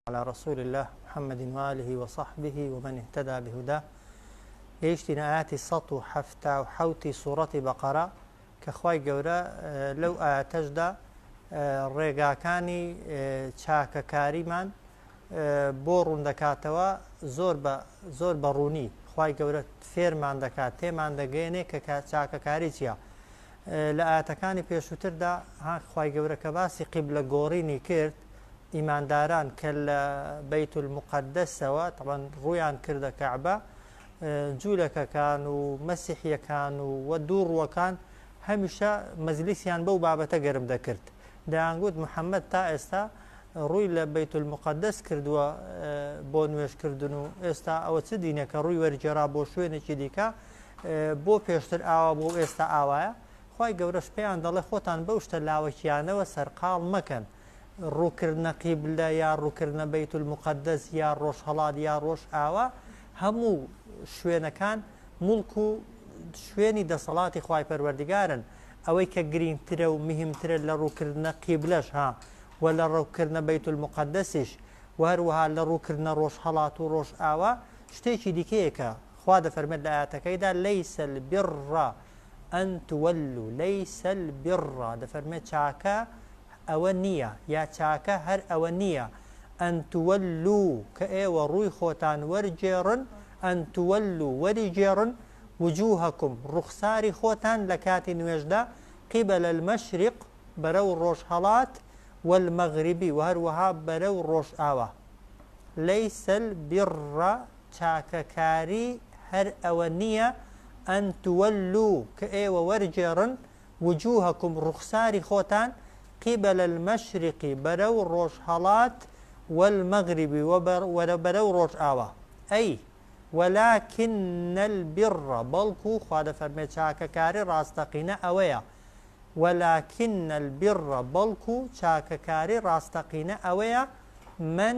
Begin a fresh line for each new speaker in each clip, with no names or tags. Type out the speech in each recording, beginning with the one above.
علی رسول اللە محمد و آله و صحبه و من اهتدی بهداه گەیشتینە ئاەتی 1970 ی سوڕەتی بەقەرە کە خوای گەورە لەو ئاەتەشدا ڕێگاکانی چاکەکاریمان بۆ ڕووندەکاتەوە زۆر بە زۆر بەڕوونی خوای گەورە فێرمان دەکات تێمان دەگەێنێ کە چاکەکاری چییە لە ئایەتەکانی پێشووتردا ها خوای گەورە کە باسی قیبلە گۆڕینی کرد ئیمانداران کە لە بەیت المقدسەوە تەبەن ڕویان کردە کەعبە جوولەکەکان و مەسیحیەکان و وە دوو ڕوەکان هەمیشە مەزلیسیان بەو بابەتە گەرم دەکرد دەیانگوت محەممەد تا ئێستا ڕووی لە بیت المقدس کردووە بۆ نوێشکردن و ئێستا ئەوە چ دینێکە ڕووی وەرجێرا بۆ شوێنێکی دیکە بۆ پێشتر ئاوا بوو ئێستا ئاوایە خی گەورەش پێیان دەڵێ خۆتان بەو شتە لاوەکیانەوە سەرقاڵ مەکەن ڕووکردنە قیبلە یا ڕووکردنە بیت المقدس یا ڕۆژهڵات یا ڕۆژ ئاوا هەموو شوێنەکان مڵک و شوێنی دەسەڵاتی خی پەروەردگارن ئەوەی کە گرینگترە و مهمترە لە ڕووکردنە قیبلەش ها و لە ڕووکردنە بیت المقدسیش و هەروەها لە ڕووکردنە ڕۆژهڵات و ڕۆژ ئاوا شتێکی دیکەیەکە خوا دەفەرمێت لە ئایەتەکەیدا، لەیس البر ان تولو لەیس البر، دەفەرمێت چاکە ئەوە نییە، یا چاکە هەر ئەوە نییە، ان تولو کە ئێوە ڕووی خۆتان وەرگێڕن، ان تولو وەریگێڕن، وجوهکم ڕوخساری خۆتان لە کاتی نوێژدا، قبل المشرق بەرەو ڕۆژهەڵات، والمغرب و هەروەها بەرەو ڕۆژئاوا. لەیس البر چاکەکاری هەر ئەوە نییە ان تولو کە ئێوە وەرگێڕن وجوهکم ڕوخساری خۆتان قبل المشرق بەرەو ڕۆژهەڵات والمغرب و بەرەو ڕۆژئاوا ئەی ولکن البر بەڵکو خوا دەفەرمێ چاکەکاری ڕاستەقینە ئەوەیە ولکن البر بەڵکو چاکەکاری ڕاستەقینە ئەوەیە من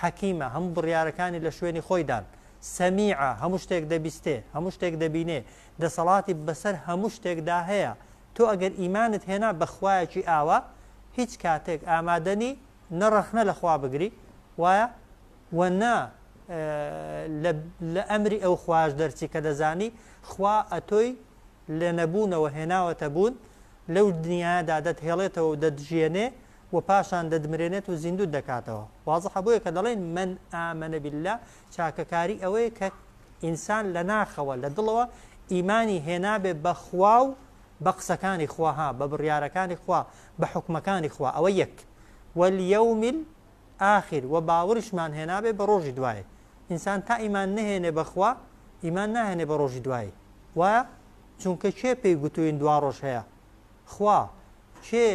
حەکیمە، هەموو بڕیارەکانی لە شوێنی خۆیدان، سەمیعە، هەموو شتێک دەبیستێ، هەموو شتێک دەبینێ، دەسەڵاتی بەسەر هەموو شتێکدا هەیە، تۆ ئەگەر ئیمانت هێنا بە خوایەکی ئاوا، هیچ کاتێک ئامادە نی نە ڕەخنە لە خوا بگری، وایە؟ و نە لە ئەمری ئەو خوایەش دەرچی کە دەزانی خوا ئەتۆی لە نەبوونەوە هێناوەتە بوون، لەو دنیایەدا دەتهێڵێتەوە و دەتژیەنێ، و پاشان دەدمرێنێت و زیندووت دەکاتەوە وازحە بۆیە کە دەڵێن من آمن باللە چاکەکاری ئەوەیە کە ئینسان لە ناخەوە لە دڵەوە ئیمانی هێنابێ بە خوا و بە قسەکانی خوا ها بە بڕیارەکانی خوا بە حکومەکانی خوا ئەوە یەک وەلیەومیل ئاخر و باوریشمان هێنابێ بە ڕۆژی دوایە ئینسان تا ئیمان نەهێنێ بەخوا ئیمان ناهێنێ بە ڕۆژی دوایی وایە چونکە کێ پێی گوتوین دوا ڕۆژ هەیە خوا، کێ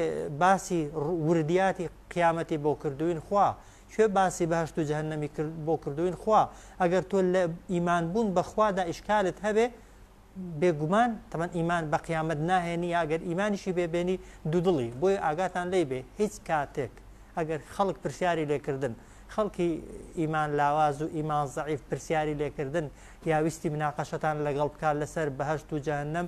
باسی وردیاتی قیامەتی بۆ کردووین؟ خوا، کوێ باسی بەهەشت و جەهەنەمی بۆ کردووین؟ خوا، ئەگەر تۆ لە ئیمان بوون بە خوادا ئیشکالت هەبێ، بێگومان، تەبعەن ئیمان بە قیامەت ناهێنی یا ئەگەر ئیمانیشی بێ بێنی دوودڵی، بۆیە ئاگاتان لێی بێ هیچ کاتێک ئەگەر خەڵک پرسیاری لێکردن، خەڵکی ئیمان لاواز و ئیمان زەعیف پرسیاری لێکردن یا ویستی مناقەشەتان لەگەڵ بکا لەسەر بەهەشت و جەهەنەم،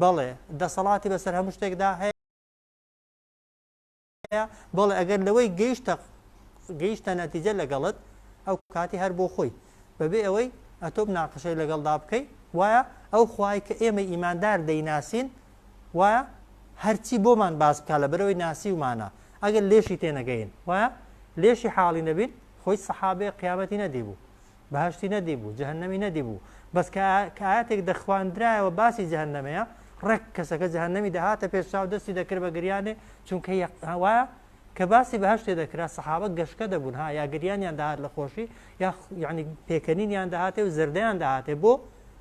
بەڵێ، دەسەڵاتی بەسەر هەموو شتێکدا هەیە، بەڵێ ئەگەر لەوەی گەیشتە گەیشتە نەتیجە لەگەڵت ئەو کاتی هەر بۆ خۆی بەبێ ئەوەی ئەتۆ ناقشەی لەگەڵدا بکەیت وایە ئەو خوای کە ئێمە ئیماندار دەیناسین وایە هەرچی بۆمان باس بکە لە بەرەوەی ناسی ومانە ئەگەر لێشی تێنەگەین وایە لێشی حاڵی نەبین خۆی سەحابێ قیامەتی نەدیبوو بەهەشتی نەدیبوو جەهەنەمی نەدیبوو بەس کە کە ئاەتێک دەخواندرایەوە باسی جەهەنەمەیە ڕێک کەسەکە جەهەنەمی دەهاتە پێش چاو دەستی دەکرد بە گریانێ چونکە هەوا کە باسی بەهشتێ دەکرا سەحابە گەشتە دەبوون ها یا گریانیان داهات لە خۆشی یا یعنی پێکەنینیان داهاتێ و زردیان داهاتێ بۆ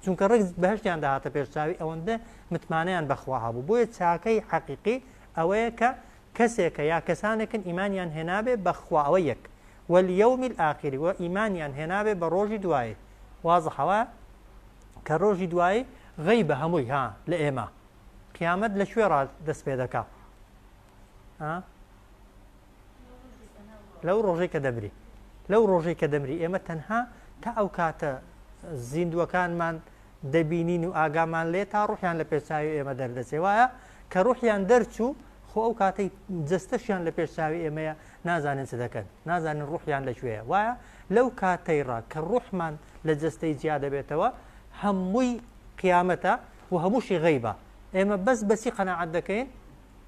چونکە ڕێک بەهشتیان داهاتە پێش چاوی ئەوەندە متمانیان بەخوا هەبوو بۆیە چاکەی حەقیقی ئەوەیە کە کەسێکە یا کەسانێکن ئیمانیان هێنابێ بەخواوە یەک والیوم الآخری وە ئیمانیان هێنابێ بە ڕۆژی دوایی وازحە وایە کە ڕۆژی دوایی غەیبە هەمووی ها لە ئێمە قیامەت لە کوێ ڕا دەست پێ دەکا ها لەو ڕۆژەی کە دەمری لەو ڕۆژەی کە دەمری ئێمە تەنها تا ئەو کاتە زیندوەکانمان دەبینین و ئاگامان لێ تا ڕوحیان لە پێچاوی ئێمە دەردەچێ وایە کە ڕوحیان دەرچوو خۆ ئەو کاتەی جستەشیان لە پێشچاوی ئێمەیە نازانن چ دەکەن، نازانن ڕوحیان لە کوێیە، وایە لەو کاتەیڕا کە ڕوحمان لە جەستەی جیا دەبێتەوە هەمووی قیامەتە و هەمووشی غەیبە، ئێمە بەس بەچی قەناعەت دەکەین؟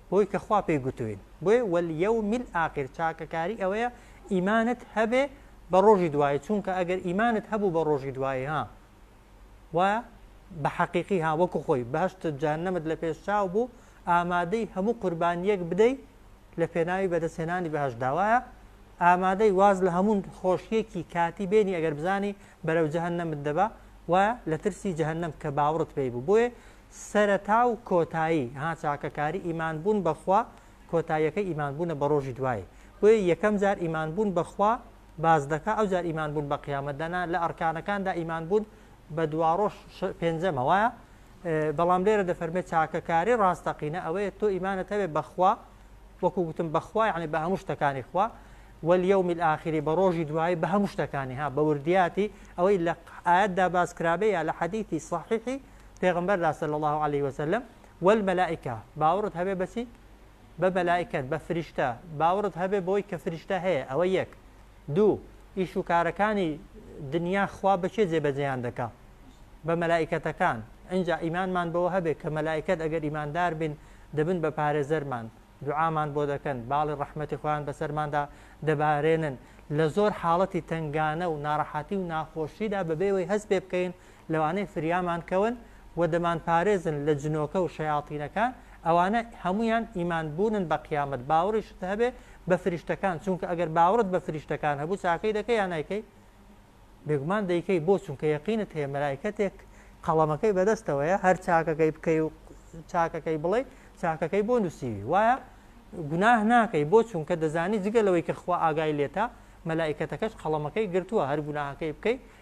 بەوەی کە خوا پێی گوتوین، بۆیە وەلیەوم الآخر چاکەکاری ئەوەیە ئیمانت هەبێ بە ڕۆژی دوایی، چونکە ئەگەر ئیمانت هەبوو بە ڕۆژی دوایی ها، وایە؟ بە حەقیقی ها وەکو خۆی بەهشتت جانەمت لە پێش چاو بوو ئامادەی هەموو قوربانیەک بدەی لە پێناوی بەدەستێنانی بەهش داوایە ئامادەی واز لە هەمون خۆشیەکی کاتی بێنی ئەگەر بزانی بەرەو جەهن نەمت دەبا و لە ترسی جەهنم کە باوڕت پێی بوو بۆیە سەرەتا و کۆتایی ها چاکەکاری ئیمان بوون بەخوا کۆتاییەکە ئیمان بوونە بە ڕۆژی دوایی بۆیە یەکەم جار ئیمان بوون بەخوا باس دەکا ئەوجار ئیمان بوون بە قیامەت دەنا لە ئەڕکانەکاندا ئیمان بوون بە دواڕۆژ پێنجەمە وایە بەڵام لێرە دەفەرمێت چاکەکاری ڕاستەقینە ئەوەیە تۆ ئیمانەت هەوێ بەخوا وەکو گوتم بەخوا یعنی بە هەموو شتەکانی خوا واليوم الآخر بە ڕۆژی دوایی بە هەموو شتەکانی ها بە وردیاتی ئەوەی لە ئاەتدا باس کرابێ یا لە حەدیثی صحیحی پێغمبەر لا صلی الله عليه وسلم والملائکە باوڕت هەبێ بەچی بە مەلائیکەت، بە فریشتە، باوەڕت هەبێ بەوەی کە فریشتە هەیە، ئەوە یەک. دوو، ئیش و کارەکانی دنیا خوا بە کێ جێبەجێیان دەکا؟ بە مەلائیکەتەکان. ئینجا ئیمانمان بەوە هەبێ کە مەلائیکەت ئەگەر ئیماندار بین دەبن بە پارێزەرمان، دوعامان بۆ دەکەن، باڵی ڕەحمەتی خۆیان بەسەرماندا دەبارێنن، لە زۆر حاڵەتی تەنگانە و ناڕەحەتی و ناخۆشیدا بەبێ ئەوەی هەست پێ بکەین لەوانەیە فریامان کەون و دەمانپارێزن لە جنۆکە و شەیاتینەکان، ئەوانە هەموویان ئیمان بوونن بە قیامەت، باوەڕیشت هەبێ بە فریشتەکان، چونکە ئەگەر باوەڕت بە فریشتەکان هەبوو چاکەی دەکەی یا نایکەی؟ بێگومان دەیکەی، بۆ چونکە یەقینت هەیە مەلایکەتێک قەڵەمەکەی بەدەستەوەیە هەر چاکەکەی بکەی و چاکەکەی بڵێ چاکەکەی بۆ نووسیوی وایە گوناه ناکەی بۆ چونکە دەزانی جگە لەوەی کە خوا ئاگای لێتە مەلایکەتەکەش قەڵەمەکەی گرتووە هەر گوناهەکەی بکەی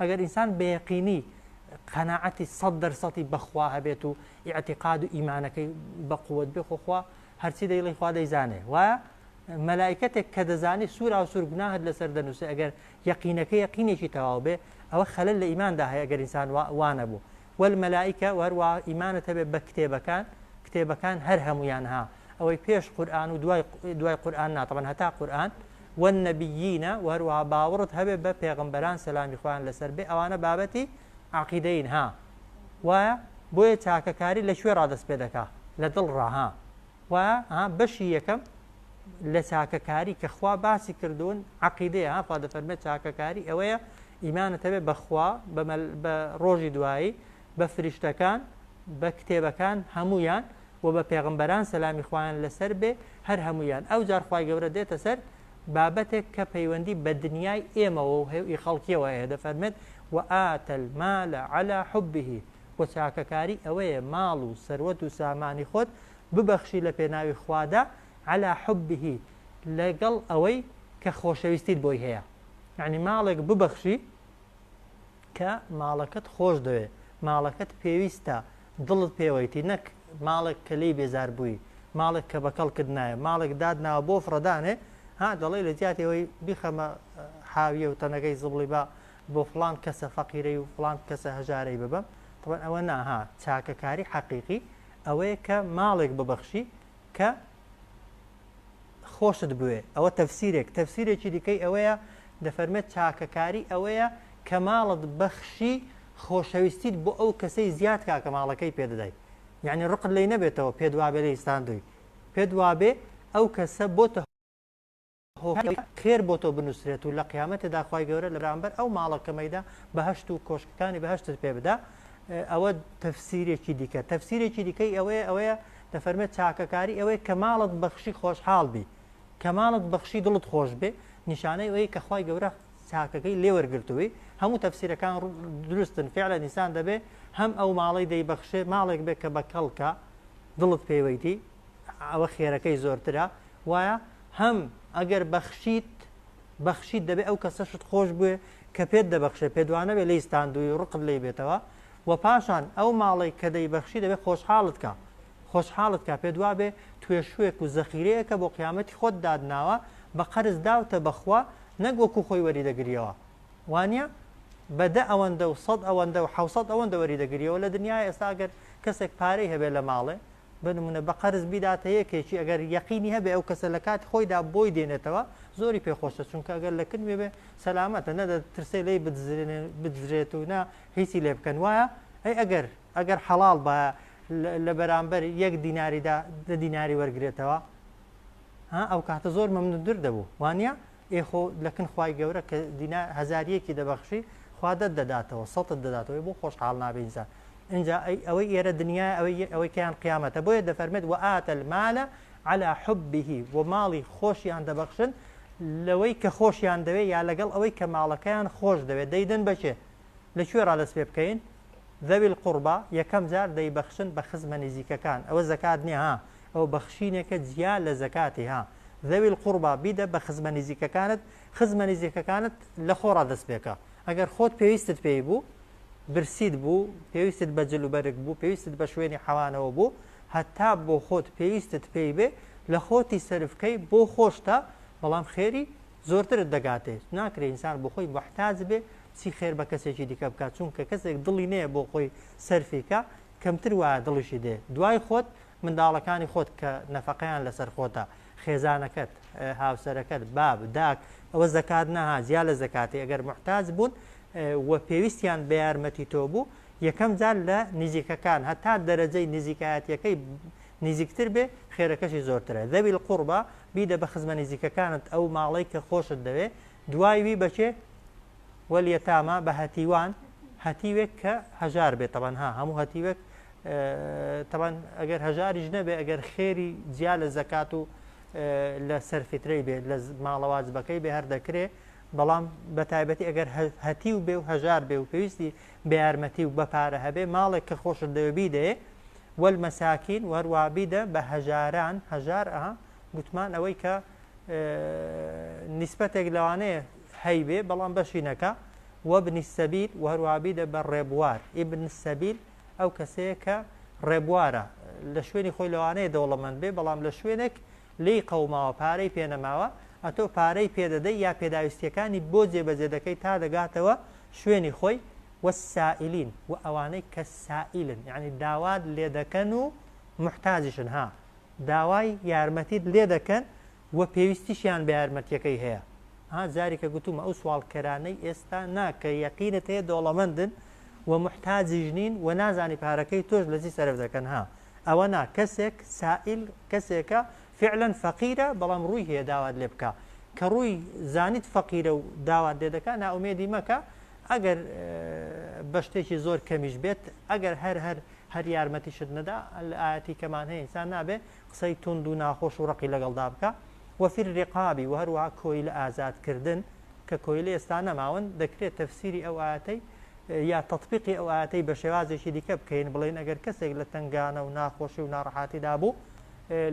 ئەگەر ئینسان بە یەقینی قەناعەتی سەد دەر سەتی بەخوا هەبێت و ئیعتیقاد و ئیمانەکەی بە قووەت بێ خۆخوا هەرچی دەیڵی خوا دەیزانێ وایە مەلایکەتێک کە دەزانی سوورا و سوورگناهت لەسەر دەنووسێ ئەگەر یەقینەکە یەقینێکی تەواو بێ ئەوە خەلل لە ئیماندا هەیە ئەگەر ئینسان وانە بوو وەل مەلایکە وەروە ئیمانە هەبێت بە کتێبەکان کتێبەکان هەر هەمویان ها ئەوەی پێش قورئان و دوای دوای قورئان نا طبعا هەتا قورئان والنبیینە و هەروەها باوەڕت هەبێ بە پێغمبەران سەلامی خوان لەسەر بێ ئەوانە بابەتی عقیدەین ها وایە بۆیە چاکەکاری لە کوێ ڕادەست پێ دەکا لە دڵ ڕاها و ها بەشی یەکەم لە چاکەکاری کە خوا باسی کردوون عقیدەیە هاخوا دەفەرمێت چاکەکاری ئەوەیە ئیمانت هەبێ بەخوا بە ڕۆژی دوایی بە فریشتەکان بە کتێبەکان هەمویان وە بە پێغەمبەران سەلامی خوایان لەسەر بێ هەر هەموویان ئەوجار خوای گەورە دێتە سەر بابەتێک کە پەیوەندی بە دنیای ئێمەوە و هی خەڵکیەوە هەیە دەفەرمێت وآت المال علی حبه وە چاکەکاری ئەوەیە ماڵ و سەروەت و سامانی خۆت ببەخشی لە پێناوی خوادا علی حبه لەگەڵ ئەوەی کە خۆشەویستیت بۆی هەیە یعنی ماڵێک ببەخشی کە ماڵەکەت خۆش دەوێ ماڵەکەت پێویستە دڵت پێوەیتی نەک ماڵێک کە لێی بێزار بووی ماڵێک کە بەکەڵکت نایە ماڵێک دات ناوە بۆ فڕەدانێ ها دەڵێ لە جیاتی ئەوەی بیخەمە حاویە و تەنەکەی زبڵی با بۆ فلان کەسە فەقیرەی و فلان کەسە هەژارەی ببم طبعا ئەوە ناها چاکەکاری حەقیقی ئەوەیە کە ماڵێک ببەخشی کە خۆشت بوێ ئەوە تەفسیرێک تەفسیرێکی دیکەی ئەوەیە دەفەرمێت چاکەکاری ئەوەیە کە ماڵت بەخشی خۆشەویستیت بۆ ئەو کەسەی زیاد کا کە ماڵەکەی پێدەدای یعنی ڕقت لی نەبێتەوە پێ دوابێ لە ئیسلاندوی پێ دوابێ ئەو کەسە بۆتە خێر بۆ تۆ بنووسرێت و لە قیامەتی داخوای گەورە لە برامبەر ئەو ماڵە کەمەیدا بەهشت و کۆشکەکانی بەهشتت پێ بدا ئەوە تەفسیرێکی دیکە تەفسیرێکی دیکەی ئەوەیە ئەوەیە دەفەرمێت چاکەکاری ئەوەیە کە ماڵت بەخشی خۆشحاڵ بی کە ماڵت بەخشی دڵت خۆش بێ نیشانەی ئەوەیە کە خوای گەورە چاکەکەی لێ وەرگرتووی هەموو تەفسیرەکان دروستن فعلە نیسان دەبێ هەم ئەو ماڵی دەیبەخشێ ماڵێک بێ کە بە کەڵکە دڵت پێوەیتی ئەوە خێرەکەی زۆرترە وایە هەم ئەگەر بەخشیت بەخشیت دەبێ ئەو کەسەشت خۆش بوێ کە پێت دەبەخشێ پێدوانەبێ لەی ستاندوی ڕقت لی بێتەوە وە پاشان ئەو ماڵەی کە دەیبەخشی دەبێت خۆشحاڵت کا خۆشحاڵت کا پێت وابێ توێشوێک و زەخیرەیەکە بۆ قیامەتی خۆت داتناوە بە قەرز داوتە بە خوا نەک وەکو خۆی وەری دەگریەوە وانیە بە دە ئەوەندە و سەد ئەوەندە و حەوسەد ئەوەندە وەری دەگریەوە لە دنیایە ئێستا ئەگەر کەسێک پارەی هەبێت لە ماڵێ بۆ نموونە بە قەرز بیداتە یەکێکی ئەگەر یەقینی هەبێ ئەو کەسە لە کاتی خۆیدا بۆی دێنێتەوە زۆری پێ خۆشە چونکە ئەگەر لە کنوێ بێ سەلامەتە نە دەترسێ لێی بدزرێت و نە هیچی لێ بکەن وایە ئەی ئەگەر ئەگەر حەڵاڵ بە لە بەرامبەر یەک دیناریدا دە دیناری وەرگێتەوە ها ئەو کاتە زۆر مەمنوندر دەبوو وانە ئێ خۆ لە کن خوای گەورە کە دینا هەزاریەکی دەبەخشی خوا دەت دەداتەوە سەتت دەداتەوەی بۆ خۆشحاڵ نابێ ئینسان ئینجا ئەی ئەوەی ئێرە دنیا ئەوەی ئەوەی کەیان قیامەتە بۆیە دەفەرمێت و ئاتە المالە على حبه و ماڵی خۆشیان دەبەخشن لەوەی کە خۆشیان دەوێ یا لەگەڵ ئەوەی کە ماڵەکەیان خۆش دەوێت دەیدەن بەچێ لە کوێ ڕا دەست پێ بکەین؟ ذوی القربا یەکەم جار دەیبەخشن بە خزمە نزیکەکان ئەوە زەکات نیە ها ئەوە بەخشینێکە جیا لە زەکاتی ها ذوی القربا بیدە بە خزمە نزیکەکانت خزمە نزیکەکانت لە خۆڕا دەست پێکە ئەگەر خۆت پێویستت پێی بوو برسید بوو پێویستت بە جل و بەرگ بوو پێویستت بە شوێنی حەوانەوە بوو هەتا بۆ خۆت پێویستت پێی بێ لە خۆتی سەرفکەی بۆ خۆشتە بەڵام خێری زۆرترت دەگاتێ ناکرێ ئینسان بۆخۆی موحتاج بێ چی خێر بە کەسێکی دیکە بکات چونکە کەسێک دڵی نەیە بۆ خۆی سەرفی کا کەمتر وایە دڵیشی دێ دوای خۆت منداڵەکانی خۆت کە نەفەقەیان لەسەر خۆتە خێزانەکەت هاوسەرەکەت باب داک ئەوە زەکات نەها جیا لە زەکاتی ئەگەر محتاج بوون و پێویستیان بە یارمەتی تۆ بوو یەکەم جار لە نزیکەکان هەتا دەرەجەی نزیکایەتەکەی نزیکتر بێ خێرەکەشی زۆرترە ذوی القربى بیدە بە خزمە نزیکەکانت ئەو ماڵەی کە خۆشت دەوێ دوای وی بەکێ وەلیەتاما بە هەتیوان هەتیوێک کە هەژار بێت تەبەن ها هەموو هەتیوێک تەبەن ئەگەر هەژاریش نەبێ ئەگەر خێری جیا لە زەکات و لە سەرفیترەی بێت لە ماڵەواز بەکەی بێ هەر دەکرێ بەڵام بە تایبەتی ئەگەر هەتی و بێ و هەژار بێ و پێویستی بەیارمەتی و بەپارە هەبێ ماڵێک کە خۆشت دەوێ بیدەیێ وەلمەساکین و هەروەها بیدە بە هەژاران هەژار ئەها گوتمان ئەوەی کە نیسبەتێک لەوانەیە هەیبێ بەڵام بەشی نەکە وەبنی سەبیل و هەروەها بیدە بە ڕێبوار ئیبن سەبیل ئەو کەسەیە کە ڕێبوارە لە شوێنی خۆی لەوانەیە دەوڵەمەند بێ بەڵام لە شوێنێک لێی قەوماوە پارەی پێ نەماوە ئەتۆ پارەی پێ دەدەی یا پێداویستیەکانی بۆ جێ بەجێ دەکەی تا دەگاتەوە شوێنی خۆی والسائلین وە ئەوانەی کە سائیلن یەعنی داوات لێ دەکەن و موحتاجیشن ها داوای یارمەتیت لێ دەکەن وە پێویستیشیان بە یارمەتیەکەی هەیە ها جاریکە گوتومە ئەو سواڵکەرانەی ئێستا نا کە یەقینت هەیە دەوڵەمەندن وە موحتاجیش نین وە نازانی پارەکەی تۆش لە چی سەرف دەکەن ها. ئەوە نا کەسێک سائیل کەسێکە فعلا فەقیرە بەڵام ڕووی هەیە داوات لێ بکە کە ڕووی زانیت فەقیرە و داوات لێ دەکا نائومێدی مەکە ئەگەر بە شتێکی زۆر کەمیش بێت ئەگەر هەر هەر هەر یارمەتیشت نەدا لە ئاەتی کەمان هەیە ئینسان نابێ قسەی تونند و ناخۆش و ڕقی لەگەڵدا بکە وەفیر ڕقابی و هەروە کۆی لە ئازادکردن کە کۆیلە ئێستا نەماون دەکرێت تەفسیری ئەو ئاەتەی یا تەتبیقی ئەو ئایەتەی بە شێوازێکی دیکە بکەین بڵێین ئەگەر کەسێک لە تنگانە و ناخۆشی و ناڕەحاتی دابوو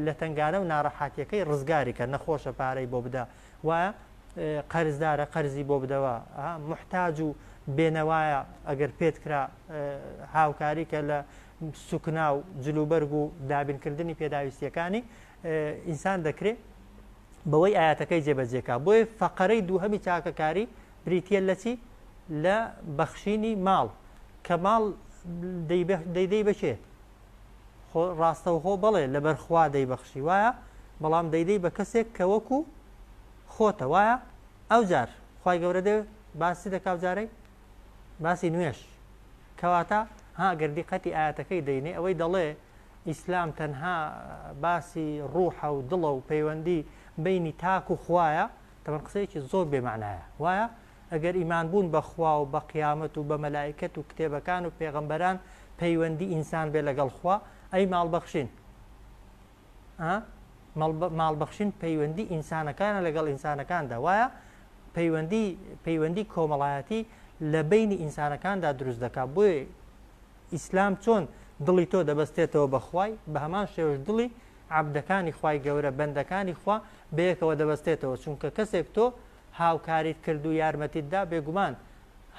لە تنگانە و ناڕەحاتیەکەی ڕزگاری کە نەخۆشە پارەی بۆ بدە وایە قەرزدارە قەرزی بۆ بدەوە محتاج و بێنەوایە ئەگەر پێت کرا هاوکاری کە لە سوکنا و جلوبەرگ و دابینکردنی پێداویستیەکانی ئینسان دەکرێت بەوەی ئاەتەکەی جێبەجێکا بۆیە فەقەرەی دووهەمی چاکەکاری بریتیە لە چی؟ لە بەخشینی ماڵ، کە ماڵ دەیدەی بە کێ؟ خۆ ڕاستەوخۆ بەڵێ لەبەر خوا دەیبەخشی وایە، بەڵام دەیدەی بە کەسێک کە وەکو خۆتە وایە، ئەوجار خوای گەورە دێ باس چی دەکا ئەوجارەی؟ باسی نوێژ کەواتە ها گەر دیقەتی ئاەتەکەی دەینێ ئەوەی دەڵێ ئیسلام تەنها باسی ڕوحە و دڵە و پەیوەندی بینی تاک و خوایە تەبەن قسەیەکی زۆر بێ مەعنایە وایە ئەگەر ئیمان بوون بە خوا و بە قیامەت و بە مەلائیکەت و کتێبەکان و پێغەمبەران پەیوەندی ئینسان بێ لەگەڵ خوا ئەی ماڵبەخشین ماڵبەخشین پەیوەندی ئینسانەکانە لەگەڵ ئینسانەکاندا وایە پەیوەندی پەیوەندی کۆمەڵایەتی لە بینی ئینسانەکاندا دروست دەکات بۆی ئیسلام چۆن دڵی تۆ دەبەستێتەوە بەخوای بە هەمان شێوش دڵی عەبدەکانی خوای گەورە، بەندەکانی خوا، بەیەکەوە دەبەستێتەوە، چونکە کەسێک تۆ هاوکاریت کرد و یارمەتیت دا بێگومان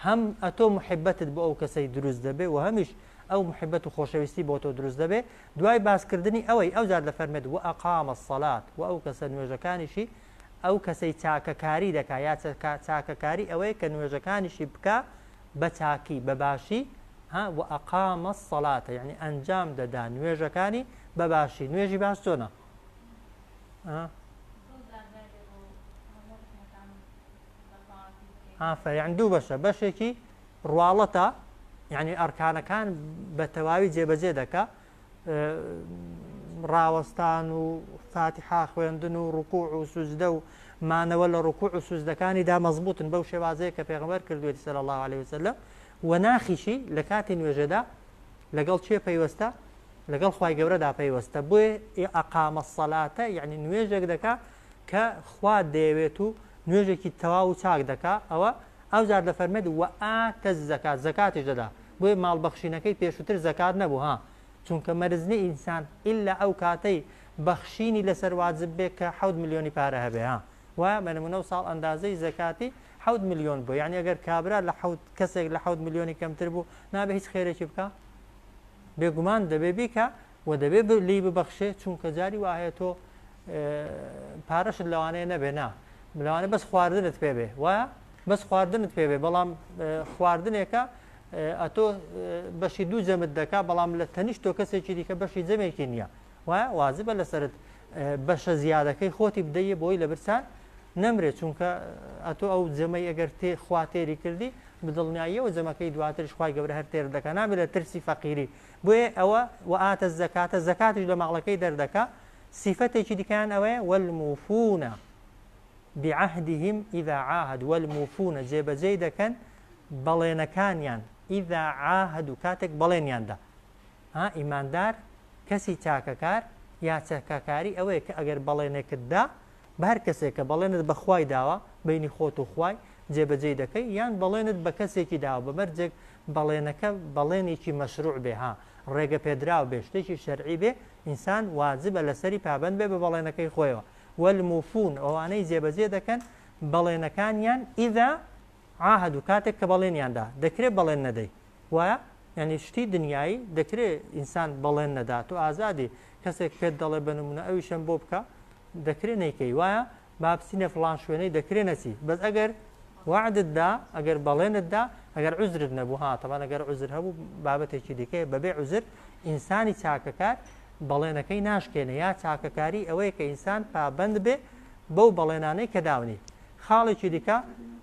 هەم ئەتۆ موحیبەتت بۆ ئەو کەسەی دروست دەبێ و هەمیش ئەو موحیبەت و خۆشەویستی بۆ تۆ دروست دەبێ، دوای باسکردنی ئەوەی ئەوجار دەفەرمێت وئەقام الصلاة وە ئەو کەسە نوێژەکانیشی ئەو کەسەی چاکەکاری دەکا یا چاکەکاری ئەوەیە کە نوێژەکانیشی بکا بە چاکی بە باشی ها وئەقام الصلاة یەعنی ئەنجام دەدا نوێژەکانی بە باشی نوێژی باش چۆنە ئافەیان دوو بەشە بەشێکی ڕواڵەتە یعنی ئەرکانەکان بە تەواوی جێبەجێ دەکە ڕاوەستان و فاتیحا خوێندن و ڕکوع و سوزدە و مانەوە لە ڕکوع و سوزدەکانی دا مەزبوتن بەو شێوازەیە کە پێغمەر کردوێتی سەر الله عليه وسلم و ناخیشی لە کاتی نوێژەدا لەگەڵ چێ پەیوەستە لەگەڵ خوای گەورەدا پەیوەستە بۆیە ئەقام الصلاتە یعنی نوێژێک دەکا کە خوا دەیەوێت و نوێژێکی تەواو و چاک دەکا ئەوە ئەو جار دەفەرمێت و ئاتە زەکات زەکاتیش دەدا بۆیە ماڵبەخشینەکەی پێشووتر زەکات نەبوو ها چونکە مەرزنی ئینسان ئللا ئەو کاتەی بەخشینی لەسەر واجب بێ کە حەوت ملیۆنی پارە هەبێ ها وایە بە نمونە و ساڵ ئەندازەی زەکاتی حەوت ملیۆن بوو یعنی ئەگەر کابرا لە حەوت کەسێک لە حەوت ملیۆنی کەمتر بوو نابێ هیچ خێرێکی بکە بێگومان دەبێ بیکا و دەبێ ب لی ببەخشێ چونکە جاری وا هەیە تۆ پارەشت لەوانەیە نەبێ نا لەوانە بەس خواردنت پێ بێ وایە بەس خواردنت پێ بێ بەڵام خواردنێکە ئەتۆ بەشی دوو جەمت دەکا بەڵام لە تەنیشت تۆ کەسێکی دیکە بەشی جەمێکی نییە وایە وازبە لەسرت بەشە زیادەکەی خۆتی بدەیە بۆی لە برسان نەمرێت چونکە ئەتۆ ئەو جەمەی ئەگەر تێ خواتێری کردی بدڵنیاییەوە جەمەکەی دواتریش خوای گەورە هەر تێر دەکا نابێت لە ترسی فەقیری بۆیە ئەوە وآت الزکاة زەکاتیش لە ماڵەکەی دەردەکا سیفەتێکی دیکەیان ئەوەیە والموفون بعهدهم اذا عاهدوا والموفون جێبەجێی دەکەن بەڵێنەکانیان اذا عاهدوا کاتێک بەڵێنیان دا ها ئیماندار کەسی چاکەکار یا چەکەکاری ئەوەیە کە ئەگەر بەڵێنێکت دا بە هەر کەسێک کە بەڵێنت بە خوای داوە، بەینی خۆت و خوای، جێبەجێی دەکەی، یان بەڵێنت بە کەسێکی داوە بە مەرجێک بەڵێنەکە بەڵێنێکی مەشروع بێ ها، ڕێگە پێدراو بێ، شتێکی شەرعی بێ، ئینسان واجبە لەسەری پابەند بێ بە بەڵێنەکەی خۆیەوە، والموفون، ئەوانەی جێبەجێ دەکەن بەڵێنەکانیان، اذا عاهدو، کاتێک کە بەڵێنیان دا، دەکرێ بەڵێن نەدەی، وایە؟ یانی شتی دنیایی دەکرێ ئینسان بەڵێن نەدا، تۆ ئازادی، کەسێک پێت دەڵێ بە نمونە ئەویشم بۆ بکە، دەکرێ نەیکەی وایە با بچینە فڵان شوێنەی دەکرێ نەچی بەس ئەگەر وعدت دا ئەگەر بەڵێنت دا ئەگەر عزرت نەبوو ها تەوان ئەگەر عزر هەبوو بابەتێکی دیکەیە بەبێ عزر ئینسانی چاکەکار بەڵێنەکەی ناشکێنێ یا چاکەکاری ئەوەیە کە ئینسان پابند بێ بەو بەڵێنانەی کە داونی خاڵێکی دیکە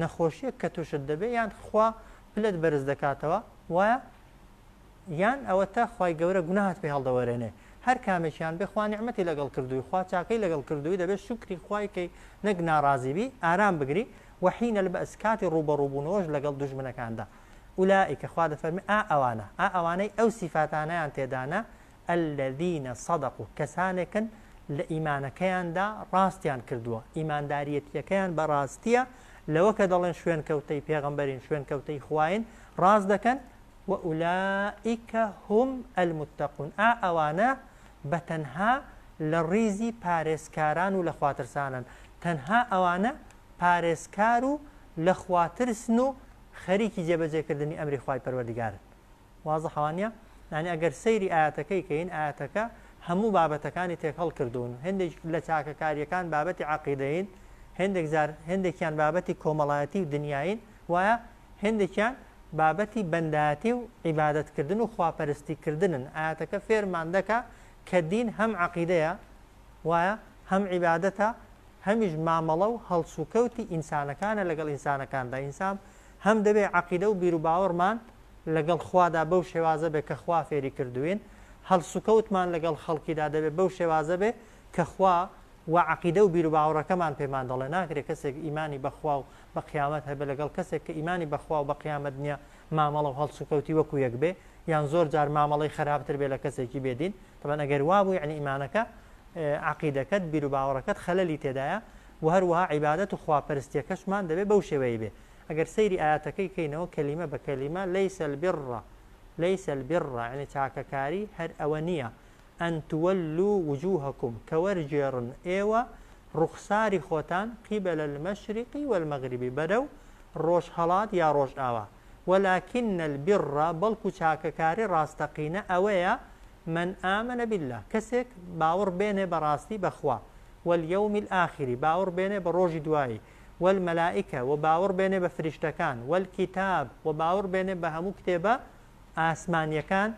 نەخۆشیەک کە توشت دەبێ یان خوا پلت بەرز دەکاتەوە وایە یان ئەوە تا خی گەورە گوناهات پێ هەڵدەوەرێنێ هەر کامێکیان بێ خوا نعممەتی لەگەڵ کردووی خوا چاکەی لەگەڵ کردووی دەبێت شکری خوایکەی نەک ناڕازیبی ئارام بگری وحینە لە بەس کاتی ڕوبەڕوبوونەوەش لەگەڵ دوژمنەکاندا ئولائیکە خوا دەفەرمی ئا ئەوانە ئا ئەوانەی ئەو سیفاتانیان تێدانە الذین صدقوا کەسانێکن لە ئیمانەکەیاندا ڕاستیان کردووە ئیمانداریەتیەکەیان بە ڕاستیە لەوە کە دەڵێن شوێن کەوتەی پێغمبەرین شوێن کەوتەی خوین ڕاست دەکەن و ئولائیکە هم المتقون ئا ئەوانە بە تەنها لە ڕیزی پارێزکاران و لە خواترسانن تەنها ئەوانە پارێزکار و لە خواترسن و خەریکی جێبەجێکردنی ئەمری خوای پەروەردگارن وازحە وانیە؟ یانی ئەگەر سەیری ئایەتەکەی کەین ئایەتەکە هەموو بابەتەکانی تێکهەڵ کردوون هەندێک لە چاکەکاریەکان بابەتی عقیدەین هەندێک زار هەندێکیان بابەتی کۆمەڵایەتی و دنیاین وایە هەندێکیان بابەتی بەنداتی و عیبادەتکردن و خواپەرستی کردنن ئاەتەکە فێرمان دەکە کە دین هەم عقیدەیە وایە هەم عیبادەتە هەمیش مامەڵە و هەڵسوکەوتی ئینسانەکانە لەگەڵ ئینسانەکاندا ئینسان هەم دەبێ عقیدە و بیرروباوەڕمان لەگەڵ خوادا بەو شێوازە بێ کە خوا فێری کردووین، هەڵسوکەوتمان لەگەڵ خەڵکیدا دەبێ بەو شێوازە بێ کە خوا و عەقیدە و بیروباوەڕەکەمان پێمان دەڵێ، ناکرێ کەسێک ئیمانی بە خوا و بە قیامەت هەبێ لەگەڵ کەسێک کە ئیمانی بە خوا و بە قیامەت نییە مامەڵە و هەڵسوکەوتی وەکو یەک بێ یان زۆر جار مامەڵەی خەراپتر بێ لە کەسێکی بێ دین، تەبەن ئەگەر وا بوو یەعنی ئیمانەکە، عەقیدەکەت، بیروباوەڕەکەت خەلەلی تێدایە و هەروەها عیبادەت و خواپەرستیەکەشمان دەبێ بەو شێوەیە بێ ئەگەر سەیری ئایەتەکەی کەینەوە کەلیمە بە کەلیمە، لەیس البر لەیس البر یەعنی چاکەکاری هەر ئەوە نییە، ان تولو وجوهکم کە وەرگێڕن ئێوە ڕوخساری خۆتان، قبل المشرق و المغرب بەرەو ڕۆژهەڵات یا ڕۆژئاوا، ولکن البر بەڵکو چاکەکاری ڕاستەقینە ئەوەیە، من آمن باللە کەسێک باوڕ بێنێ بە ڕاستی بە خوا، والیوم الآخر باوڕ بێنێ بە ڕۆژی دوایی، والملائکە وە باوەڕ بێنێ بە فریشتەکان والکتاب وە باوەڕ بێنێ بە هەموو کتێبە ئاسمانیەکان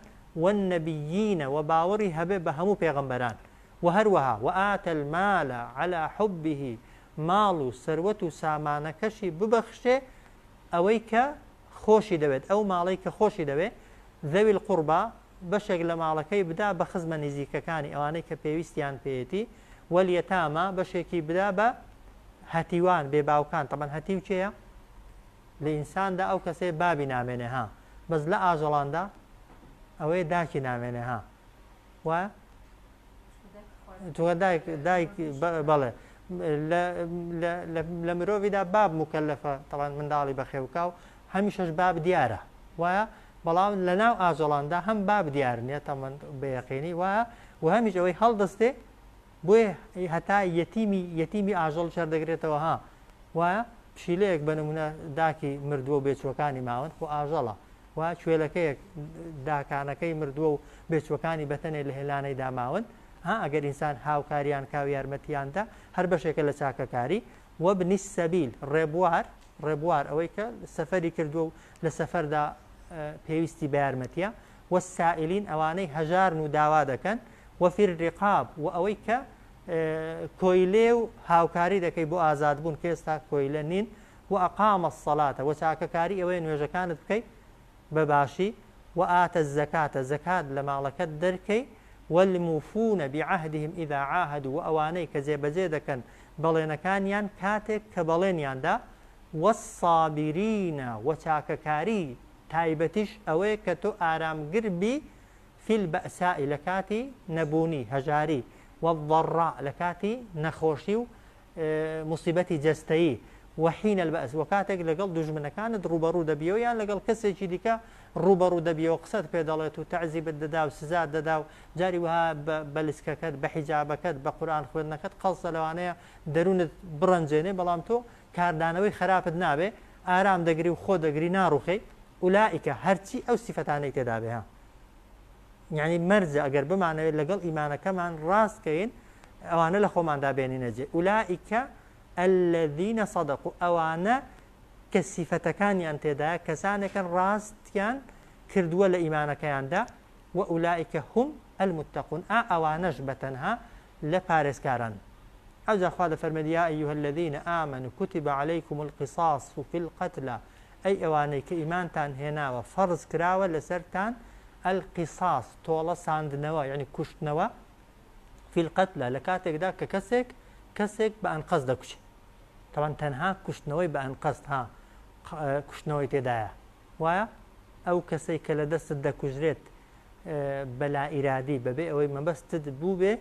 والنبیین وە باوەڕی هەبێ بە هەموو پێغەمبەران وە هەروەها وآت المال علی حبه ماڵ و سەروەت و سامانەکەشی ببەخشێ ئەوەی کە خۆشی دەوێت ئەو ماڵەی کە خۆشی دەوێ ذوی القربی بەشێک لە ماڵەکەی بدا بە خزمە نزیکەکانی ئەوانەی کە پێویستیان پێیەتی والیتامی بەشێکی بدا بە هەتیوان بێ باوکان تەبەن هەتیو کێیە لە ئینساندا ئەو کەسێ بابی نامێنێ ها بەس لە ئاژەڵاندا ئەوەیە داکی نامێنێ ها وا جوە دایک دایک بەڵێ لە مرۆڤیدا باب مکەلەفە تەوان منداڵی بەخێوکا و هەمیشەش باب دیارە وایە بەڵام لە ناو ئاجۆڵاندا هەم باب دیار نیە تەمەند بەیەقینی وایە و هەمیش ئەوەی هەڵدەستێ بۆیە هەتا یەتیمی یەتیمی ئاژەڵیش هەر دەگرێتەوە ها وایە پشیلەیەک بە نمونە داکی مردووە و بێچوەکانی ماون خۆ ئاژەڵە و کوێلەکەیەک داکانەکەی مردووە و بێچوەکانی بەتەنێ لە هێلانەی داماون ها ئەگەر ئینسان هاوکاریان کاو یارمەتیاندا هەر بەشێکە لە چاکەکاری وە بنی سەبیل ڕێبوار ڕێبوار ئەوەی کە سەفەری کردووە و لە سەفەردا پێویستی بە یارمەتیە والسائلین ئەوانەی هەژارن و داوا دەکەن، وفی الرقاب و ئەوەی کە کۆیلەیە و هاوکاری دەکەی بۆ ئازادبوون کە ئێستا کۆیلە نین، وأقام الصلاة و چاکەکاری ئەوەیە نوێژەکانت بکەی بە باشی، وآتی الزکاة زەکات لە ماڵەکەت دەرکەی، والموفون بعهدهم اذا عاهدوا و ئەوانەی کە جێبەجێ دەکەن بەڵێنەکانیان کاتێک کە بەڵێنیان دا، والصابرین و چاکەکاری تایبەتیش ئەوەیە کە تۆ ئارامگر بی فی البەئساء لە کاتی نەبوونی، هەژاری، والضراء لە کاتی نەخۆشی و موسیبەتی جەستەیی، وحین البەئس و کاتێک لەگەڵ دوژمنەکانت ڕووبەڕوو دەبیەوە یان لەگەڵ کەسێکی دیکە ڕووبەڕوو دەبیەوە قسەت پێ دەڵێت و تەعزیبت دەدا و سزات دەدا و جاری وەها بە بەلسکەکەت، بە حیجابەکەت، بە قورئان خوێندنەکەت قەڵسە لەوانەیە دەروونت بڕەنجێنێ بەڵام تۆ کاردانەوەی خەراپت نابێ. ئارام دەگری و خۆ دەگری ناڕوخێی اولائیک هەرچی ئەو سیفەتانەی تێدابێ ها یعنی مەرجە ئەگەر بمانەوێت لەگەڵ ئیمانەکەمان ڕاست کەین ئەوانە لە خۆماندا بێنینەجێ اولائیکە الذين صدقوا ئەوانە کە سیفەتەکانیان تێدایە کەسانێکن ڕاستیان کردووە لە ئیمانەکەیاندا و ئولائیکە هم المتقون ئا ئەوانەش بەتەنها لە پارێزکاران. ئەوجا خوا دەفەرموێت، یا ایها الذین آمنوا کتب علیکم القصاص فی القتلی، ئەی ئەوانەی کە ئیمانتان هێناوە فەرز کراوە لەسەرتان القصاص تۆڵە ساندنەوە یەعنی کوشتنەوە فی القتلی لە کاتێکدا کە کەسێک کەسێک بە ئەنقەست دەکوشێت. تەبعەن تەنها کوشتنەوەی بە ئەنقەست ها کوشتنەوەی تێدایە. وایە ئەو کەسەی کە لە دەستت دەکوژرێت بە لائیرادی بەبێ ئەوەی مەبەستت بووبێ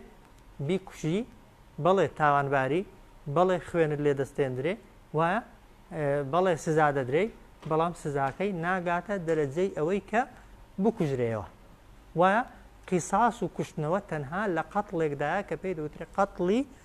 بیکوژی بەڵێ تاوانباری بەڵێ خوێنت لێ دەستێندرێ وایە بەڵێ سزا دەدرێی بەڵام سزاکەی ناگاتە دەرەجەی ئەوەی کە بکوژرەوە وایە قیساس و کوشتنەوە تەنها لە قەتڵێکدایە کە پێی دەوترێت قەتڵی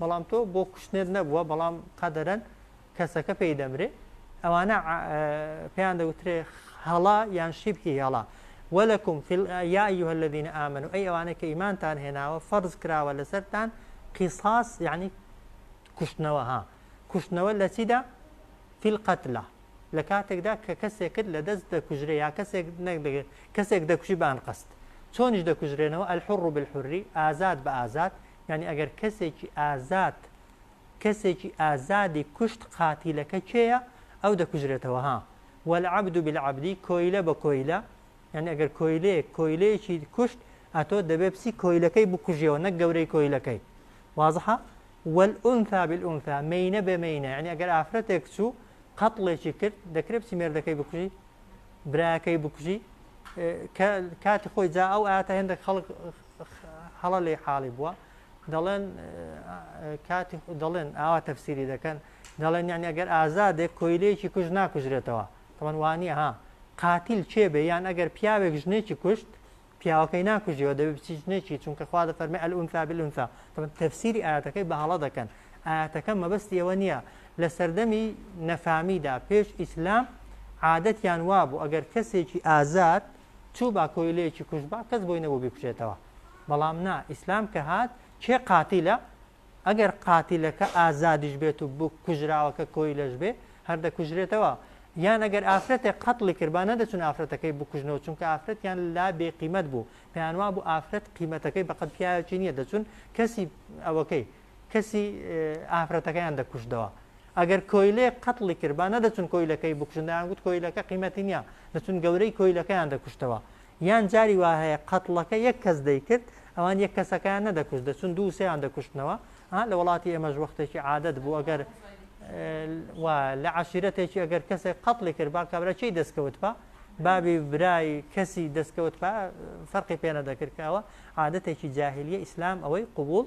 بەڵام تۆ بۆ کوشتنت نەبووە بەڵام قەدەرەن کەسەکە پێی دەمرێ ئەوانە پێیان دەوترێ هەڵا یان شیبهی هەڵا وەلەکم یا ئەیها الذین ئامنوا ئەی ئەوانە کە ئیمانتان هێناوە فەرز کراوە لەسەرتان قیصاص یعنی کوشتنەوە ها کوشتنەوە لە چیدا فی القتلە لە کاتێکدا کە کەسێک کرد لە دەست دەکوژرێ یا کەسێک نەکدەگرێت کەسێک دەکوژی بان قەست چۆنیش دەکوژرێنەوە ئەلحڕ بالحری ئازاد بە ئازاد یانی ئەگەر کەسێکی ئازاد کەسێکی ئازادی کوشت قاتیلەکە کێیە ئەو دەکوژرێتەوە ها والعبد بالعبد کۆیلە بە کۆیلە یعنی ئەگەر کۆیلەیەک کۆیلەیەکی کوشت ئەتۆ دەبێ بسی کۆیلەکەی بکوژیەوە نەک گەورەی کۆیلەکەی وازحە والأنثى بالأنثى مینە بە مینە یعنی ئەگەر ئافرەتێک چوو قەتڵێکی کرد دەکرێت بسی مێردەکەی بکوژی براکەی بکوژی کاتی خۆی جا ئەو ئاتا هێندێک خەڵک هەڵە لێی حاڵی بووە دەڵێن کاتی دەڵێن ئاوا تەفسیری دەکەن دەڵێن یعنی ئەگەر ئازادێک کۆیلەیەکی کوژ ناکوژرێتەوە تەمەن وانە ها قاتیل چێ بێ یان ئەگەر پیاوێک ژنێکی کوشت پیاوەکەی ناکوژیەوە دەبێت بچی ژنێکی چونکە خوا دە فەرمی ئەلئونسا بلونسا تەمەن تەفسیری ئاەتەکەی بە هەڵە دەکەن ئاەتەکە مەبەستی ئەوە نییە لە سەردەمی نەفامیدا پێش ئیسلام عادەتیان وابوو ئەگەر کەسێکی ئازاد چووبا کۆیلەیەکی کوشتبا کەس بۆی نەبوو بیکوژێتەوە بەڵام نا ئیسلام کە هات کێ قاتیلە ئەگەر قاتیلەکە ئازادیش بێت و بوو کوژراوەکە کۆیلەش بێ هەر دەکوژرێتەوە یان ئەگەر ئافرەتێک قەتڵی کردبا نەدەچون ئافرەتەکەی بکوژنەوە چونکە ئافرەتیان لا بێ قیمەت بوو پێیانوا بوو ئافرەت قیمەتەکەی بەقەت پیاوێکی نییە دەچون کەسی ئەوەکەی کەسی ئافرەتەکەیان دەکوشتەوە ئەگەر کۆیلێ قەتڵی کرد با نەدەچون کۆیلەکەی بکوشن دەیان گوت کۆیلەکە قیمەتی نییە دەچون گەورەی کۆیلەکەیان دەکوشتەوە یان جاری وا هەیە قەتڵەکە یەک کەس دەیکرد ئەوان یەک کەسەکەیان نەدەکوشت دەچون دوو سێیان دەکوشتنەوە ها لە وڵاتی ئێمەش وەختێکی عادەت بوو ئەگەر و لە عشیرەتێکی ئەگەر کەسێک قەتڵی کرد با کابرا چی دەستکەوت بە بابی برای کەسی دەستکەوت فەرقی پێنە دەکردکەوە عادەتێکی جاهلیە ئیسلام ئەوەی قوبول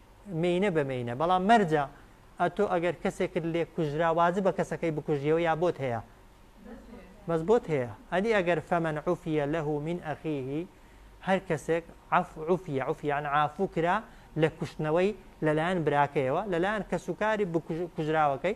مێینە بە مێینە بەڵام مەرجە ئەتۆ ئەگەر کەسێکت لێ کوژرا واجبە کەسەکەی بکوژیەوە یا بۆت هەیە بەس بۆت هەیە ئەدی ئەگەر فەمەن عوفە لەه من ئەخیهی هەر کەسێک عفعفە عفیان ئافو کرا لە کوشتنەوەی لەلایەن براکەیەوە لەلایەن کەسوکاری کوژراوەکەی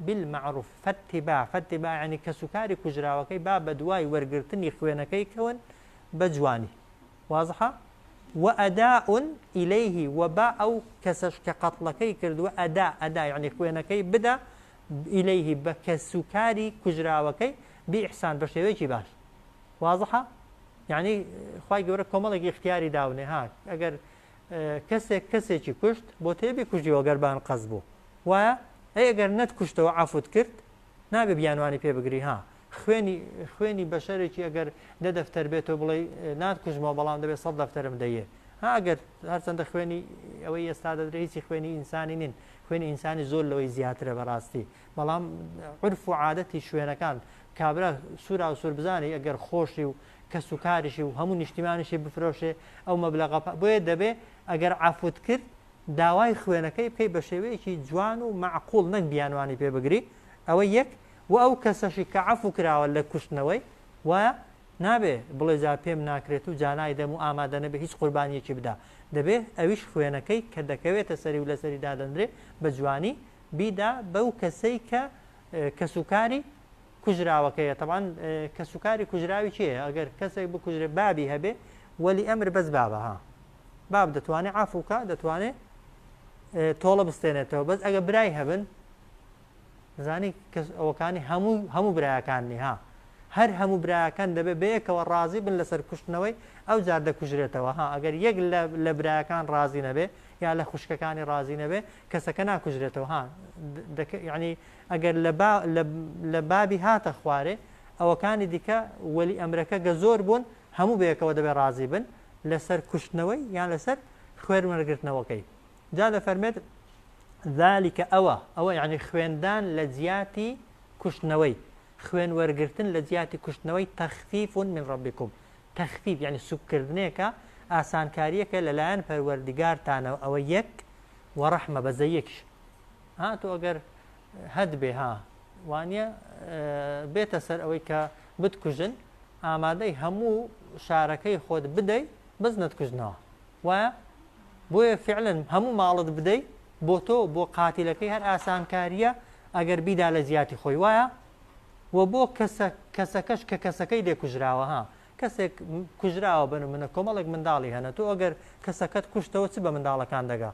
بالمعروف فاتباع فاتباع یانی کەسوکاری کوژراوەکەی با بەدوای وەرگرتنی خوێنەکەی کەون بە جوانی وازحە وەئەداء ئیلیه و با ئەو کەسەش کە قەتڵەکەی کردووە ئەدا ئەدا یعنی خوێنەکەی بدا ئیلیه بە کەسوکاری کوژراوەکەی بئیحسان بە شێوەیەکی باش وازحە یعنی خی گەورە کۆمەڵێکی اختیاری داونێ ها ئەگەر کەسێک کەسێکی کوشت بۆتەیە بیکوژیەوە گەر بان قەز بوو وایە ئەی گەر نەت کوشتەوە عەفوت کرد نابێ بیانوانی پێ بگری ها خوێنی خوێنی بەشەرێکی ئەگەر دە دەفتەر بێت و بڵێ نات کوژمەوە بەڵام دەبێت سەد دەفتەرم دەیە هاگەر هەرچەندە خوێنی ئەوەی ئێستا دەدرێ هیچی خوێنی ئینسانی نین خوێنی ئینسانی زۆر لەوەی زیاترە بەڕاستی بەڵام عرف و عادەتی شوێنەکان کابرا سوورا و سوور بزانانی ئەگەر خۆشی و کەسوکاریشی و هەموو نیشتیمانیشی بفرۆشێ ئەو مەبلەغە پا بۆیە دەبێ ئەگەر عەفوت کرد داوای خوێنەکەی بکەی بە شێوەیەکی جوان و مەعقول نەک بیانوانی پێ بگری ئەوە یەک وە ئەو کەسەشی کە عەفو کراوە لە کوشتنەوەی وایە نابێ بڵێ جا پێم ناکرێت و جا نایدەم و ئامادە نەبێ هیچ قوربانیەکی بدا دەبێ ئەویش خوێنەکەی کە دەکەوێتە سەری و لەسەری دادەندرێ بە جوانی بیدا بەو کەسەی کە کەسوکاری کوژراوەکەیە تەبعەن کەس و کاری کوژراوی کێیە ئەگەر کەسێک بکوژرێ بابی هەبێ وەلی ئەمر بەس بابە ها باب دەتوانێت عافوکە دەتوانێت تۆڵە بستێنێتەوە بەس ئەگە برای هەبن زانی کەس ئەوەکانی هەموو هەموو برایەکاننی ها هەر هەموو برایەکان دەبێت بەیەکەوە ڕازی بن لەسەر کوشتنەوەی ئەو جار دەکوژرێتەوە ها ئەگەر یەک لە برایەکان ڕازی نەبێ یا لە خوشکەکانی ڕازی نەبێ کەسەکە ناکوژرێتەوە ها ینی ئەگەر لە با لە لە بابی هاتە خوارێ ئەوەکانی دیکە وەلی ئەمرەکە گە زۆر بوون هەموو بەیەکەوە دەبێ ڕازی بن لە سەر کوشتنەوەی یان لە سەر خوێن وەرگرتنەوەکەی جا دە فەرمێت ذلك ئەوە ئەوە یعنی خوێندان لە جیاتی کوشتنەوەی خوێن وەرگرتن لە جیاتی کوشتنەوەی تەخفیف من ڕبیکم تەخفیف یعنی سوککردنێکە ئاسانکاریەکە لەلایەن پەروەردگارتانەوە ئەوە یەک وەڕەحمە بەزەیەکیش ها تۆ ئەگەر هەت بێ ها وانە بێتە سەر ئەوەی کە بتکوژن ئامادەی هەموو شارەکەی خۆت بدەیت بەس نەتکوژنەوە وایە بۆیە فعلن هەموو ماڵت بدەیت بۆ تۆ بۆ قاتیلەکەی هەر ئاسانکاریە ئەگەر بیدا لە جیاتی خۆی وایە و بۆ کەسەکەش کە کەسەکەی لێکوژراوە ها کەسێک کوژراوە بە نمونە کۆمەڵێک منداڵی هەنە تۆ ئەگەر کەسەکەت کوشتەوە چ بە منداڵەکان دەگا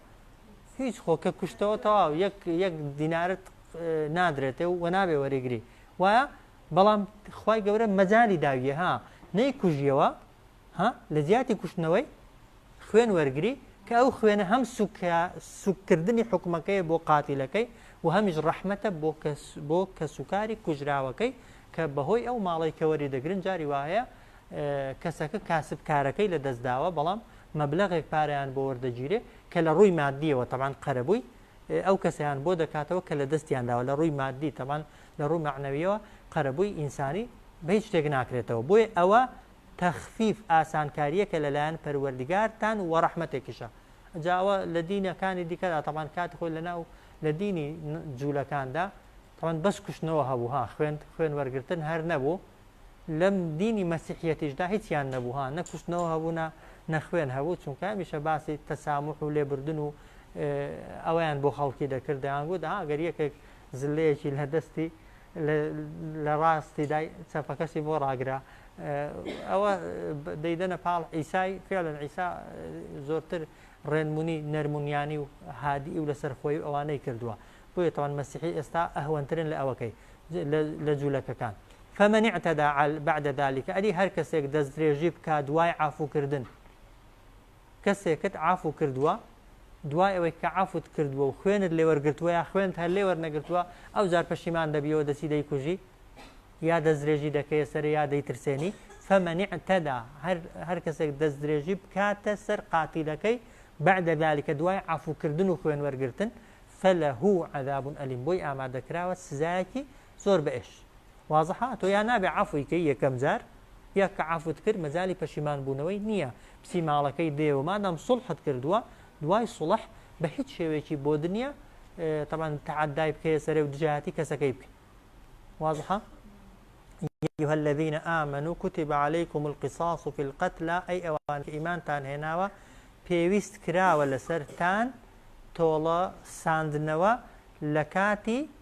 هیچ خۆ کە کوشتەوە تەواو یەک یەک دینارت نادرێتێ و نابێ وەریگری وایە بەڵام خی گەورە مەجای داویە ها نەی کوژیەوە ها لە جیاتی کوشتنەوەی خوێن وەرگری کە ئەو خوێنە هەم سوککردنی حکومەکەی بۆ قاتیلەکەی و هەمیش ڕەحمەتە بۆ کەسوکاری کوژراوەکەی کە بەهۆی ئەو ماڵی کەوەری دەگرن جاری وایە کەسەکە کاسبکارەکەی لە دەستداوە بەڵام مەبلغێک پاریان بۆ وەردەگیرێ کە لە ڕووی مادیەوە تەمان قەرەبووی ئەو کەسیان بۆ دەکاتەوە کە لە دەستیانداوە لە ڕووی مادی تەمان لە ڕووی معنەویەوە قەرەبووی ئینسانی بە هیچ شتێک ناکرێتەوە بۆیە ئەوە تخفیف ئاسانکاریەکە لەلایەن پەروەردگارتان وەڕەحمەتێکیشە ئەجا ئەوە لەدینە کانی دیکەدا تەبان کاتی خۆی لەناو لەدینی جولەکاندا تەبان بەس کوشتنەوە هەبوو ها خوێن خوێن وەرگتن هەر نەبوو لەم دینی مەسیحەتیشدا هیچیان نەبوو ها نەکوشتنەوە هەبوونا نەخوێن هەبوو چونکە میشە باسی تەسامح و لێبردن و ئەویان بۆ خەڵکی دەکردیان گوت ها گەر یەکێک زلەیەکی لە دەستی لە ڕاستی دای چەپەکەشی بۆ ڕاگرە ئەوە دەیدەنە پاڵ عیسای فعلەن عیسا زۆرتر ڕێنمونی نەرمونیانی و هادی و لەسەر خۆی و ئەوانەی کردووە بۆیە تاوان مەسیحی ئێستا ئەهوەنترن لە ئەوەکەی لە جوولەکەکان فمن اعتدى بعد ذلك ئەدی هەر کەسێک دەستدرێژی بکە دوای عفوکردن کەسێکت عەفو کردووە دوای ئەوەی کە عەفوت کردووە و خوێنت لێ وەرگرتووە یا خوێنت هەر لێ وەرنەگرتووە ئەوجار پەشیمان دەبیەوە دەچی دەیکوژی یا دەستدرێژی دەکەیە سەرێ یا دەیترسێنی فمن اعتدى هەر هەر کەسێک دەستدرێژی بکاتە سەر قاتیلەکەی بعد ذلك دوای عەفو کردن و خوێن وەرگرتن فله عذاب الیم بۆی ئامادەکراوە سزایەکی زۆر بەئش وازحە تۆ یا نابێ عەفوی کەی یەکەم جار یا کە عەفوت کرد مەجالی پەشیمان بوونەوەی نییە بچی ماڵەکەی دێ و مادام سوڵحت کردووە دوای سوڵح بە هیچ شێوەیەکی بۆ دنیا طبعا تعدای بکەیە سەرێ و دژایەتی کەسەکەی بکە وازحە أيها الذين آمنوا كتب عليكم القصاص في القتلى أي أوان إيمان تان هناوا پێویست کراوە لەسەرتان تۆڵە ساندنەوە لە کاتی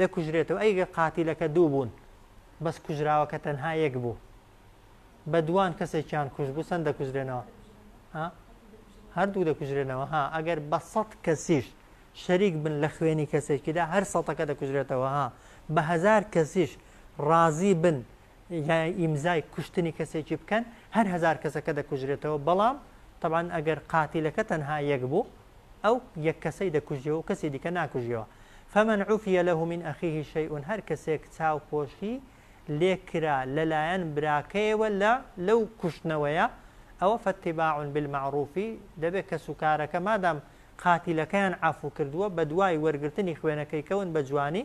دەکوژرێتەوە ئەی گەر قاتیلەکە دوو بوون بەس کوژراوەکە تەنها یەک بوو بە دووان کەسێکیان کوژ بوو چەند دەکوژرێنەوە ها هەردوو دەکوژرێنەوە ها ئەگەر بە سەد کەسیش شەریک بن لە خوێنی کەسێکیدا هەر سەتەکە دەکوژرێتەوە ها بە هەزار کەسیش ڕازی بن یا ئیمزای کوشتنی کەسێکی بکەن هەر هەزار کەسەکە دەکوژرێتەوە بەڵام تەبعەن ئەگەر قاتیلەکە تەنها یەک بوو ئەو یەک کەسەی دەکوژیەوە و کەسی دیکە ناکوژیەوە فمن عفیە لە من ئەخیه شەیئون هەر کەسێک چاو پۆشی لێکرا لەلایەن براکەیەوە لە لەو کوشتنەوەیە ئەوە فەتیباع بالمەعروفی دەبێت کەس و کارەکە مادام قاتیلەکەیان عفو کردووە بە دوای وەرگرتنی خوێنەکەی کەون بە جوانی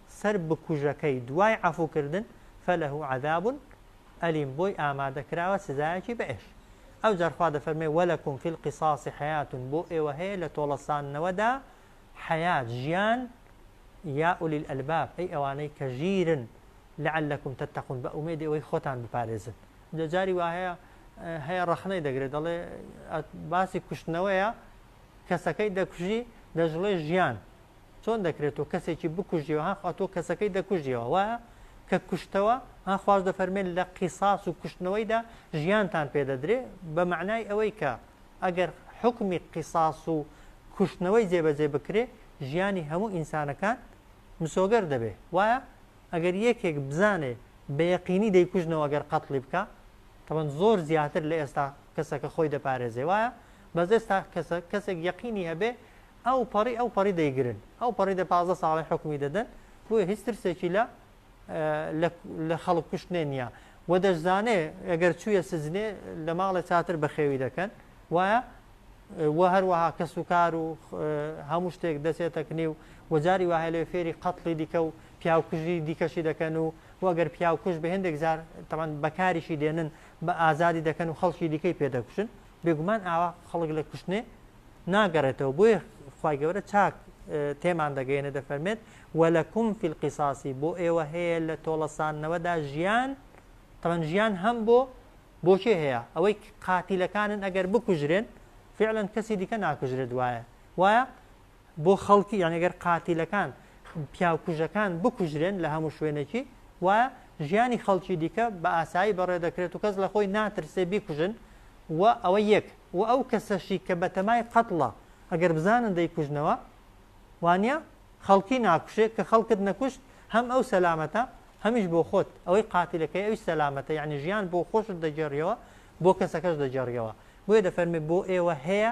سەر بکوژەکەی دوای عەفو کردن فلە عذاب الیم بۆی ئامادە کراوە سزایەکی بەئێش ئەوجار خوا دەفەرمێ ولکم فی القصاص حیات بۆ ئێوە هەیە لە تۆڵەساندنەوەدا حیات ژیان یا اولی الالباب ئەی ئەوانەی کە ژیرن لعلکم تتقون بە ئومێدی ئەوەی خۆتان بپارێزن جا جاری وایە هەیە ڕەخنەی دەگرێت دەڵێ باسی کوشتنەوەیە کەسەکەی دەکوژی دەشڵێ ژیان چۆن دەکرێت تۆ کەسێکی بکوژیەوە ها خوا تۆ کەسەکەی دەکوژیەوە وایە کە کوشتەوە ها خواش دەفەرمێن لە قیساس و کوشتنەوەیدا ژیانتان پێدەدرێ بە معنای ئەوەی کە ئەگەر حکمی قیساس و کوشتنەوەی جێبەجێ بکرێ ژیانی هەموو ئینسانەکان مسۆگەر دەبێ وایە ئەگەر یەکێک بزانێ بە یەقینی دەیکوژنەوە گەر قەتڵی بکە تەبەن زۆر زیاتر لە ئێستا کەسەکە خۆی دەپارێزێ وایە بەس ئێستا کەسە کەسێک یەقینی هەبێ ئەو پەڕی ئەو پەڕی دەیگرن ئەو پەڕی دە پازە ساڵی حکومی دەدەن بۆیە هیچ ترسێکی لە لە خەڵک کوشتێ نییە و دەشزانێ ئەگەر چویە سزنێ لە ماڵێ چاتر بەخێوی دەکەن وایە و هەروەها کەس و کار و هەموو شتێک دەچێتە کنێ و وەجاری وهە لێ فێری قەتڵی دیکە و پیاوکوژی دیکەشی دەکەن و وەگەر پیاوکوش بە هێندێک زار تەمان بەکاریشی دێنن بە ئازادی دەکەن و خەڵکی دیکەی پێدەکوشن بێگومان ئاوا خەڵک لە کوشتنێ ناگەڕێتەوە بۆیە خی گەورە چاک تێمان دەگەێنە دەفەرمێت وەلەکم فیلقیساسی بۆ ئێوە هەیە لە تۆڵەسانەوەدا ژیان تەمەن ژیان هەم بۆ بۆچێ هەیە ئەوەی قاتیلەکانن ئەگەر بکوژرێن فعلەن کەسی دیکە ناکوژرێت وایە وایە بۆ خەڵکی یانی گەر قاتیلەکان پیاو کوژەکان بکوژرێن لە هەموو شوێنێکی وایە ژیانی خەڵکی دیکە بە ئاسایی بەڕێ دەکرێت و کەس لە خۆی ناترسێ بیکوژن و ئەوە یەک و ئەو کەسەشی کە بەتەمای قەتڵە ئەگەر بزانن دەیکوژنەوە وانە خەڵکی ناکوشێت کە خەڵکت نەکوشت هەم ئەو سەلامەتە هەمیش بۆ خۆت ئەوەی قاتیلەکەی ئەوی سەلامەتە یعنی ژیان بۆ خۆشت دەگەڕیەوە بۆ کەسەکەش دەگەڕیەوە بۆیە دەفەرمی بۆ ئێوە هەیە